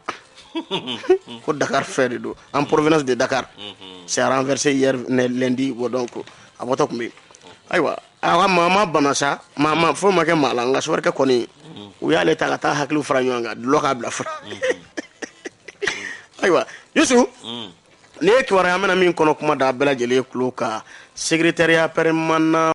ko Dakar fɛ de don. En provenance de Dakar. S'est renversé hier lundi donc a bɔtɔ tun bɛ yen. Ayiwa a ka maa ma bana sa maa ma foyi ma kɛ maa la nka sofɛrikɛ kɔni u y'ale ta ka taa hakiliw fara ɲɔgɔn kan dulɔ k'a bila fura ayiwa yusu nin ye kibaruya an bɛna min kɔnɔ kuma da bɛɛ lajɛlen tulo kan secrétariat permanent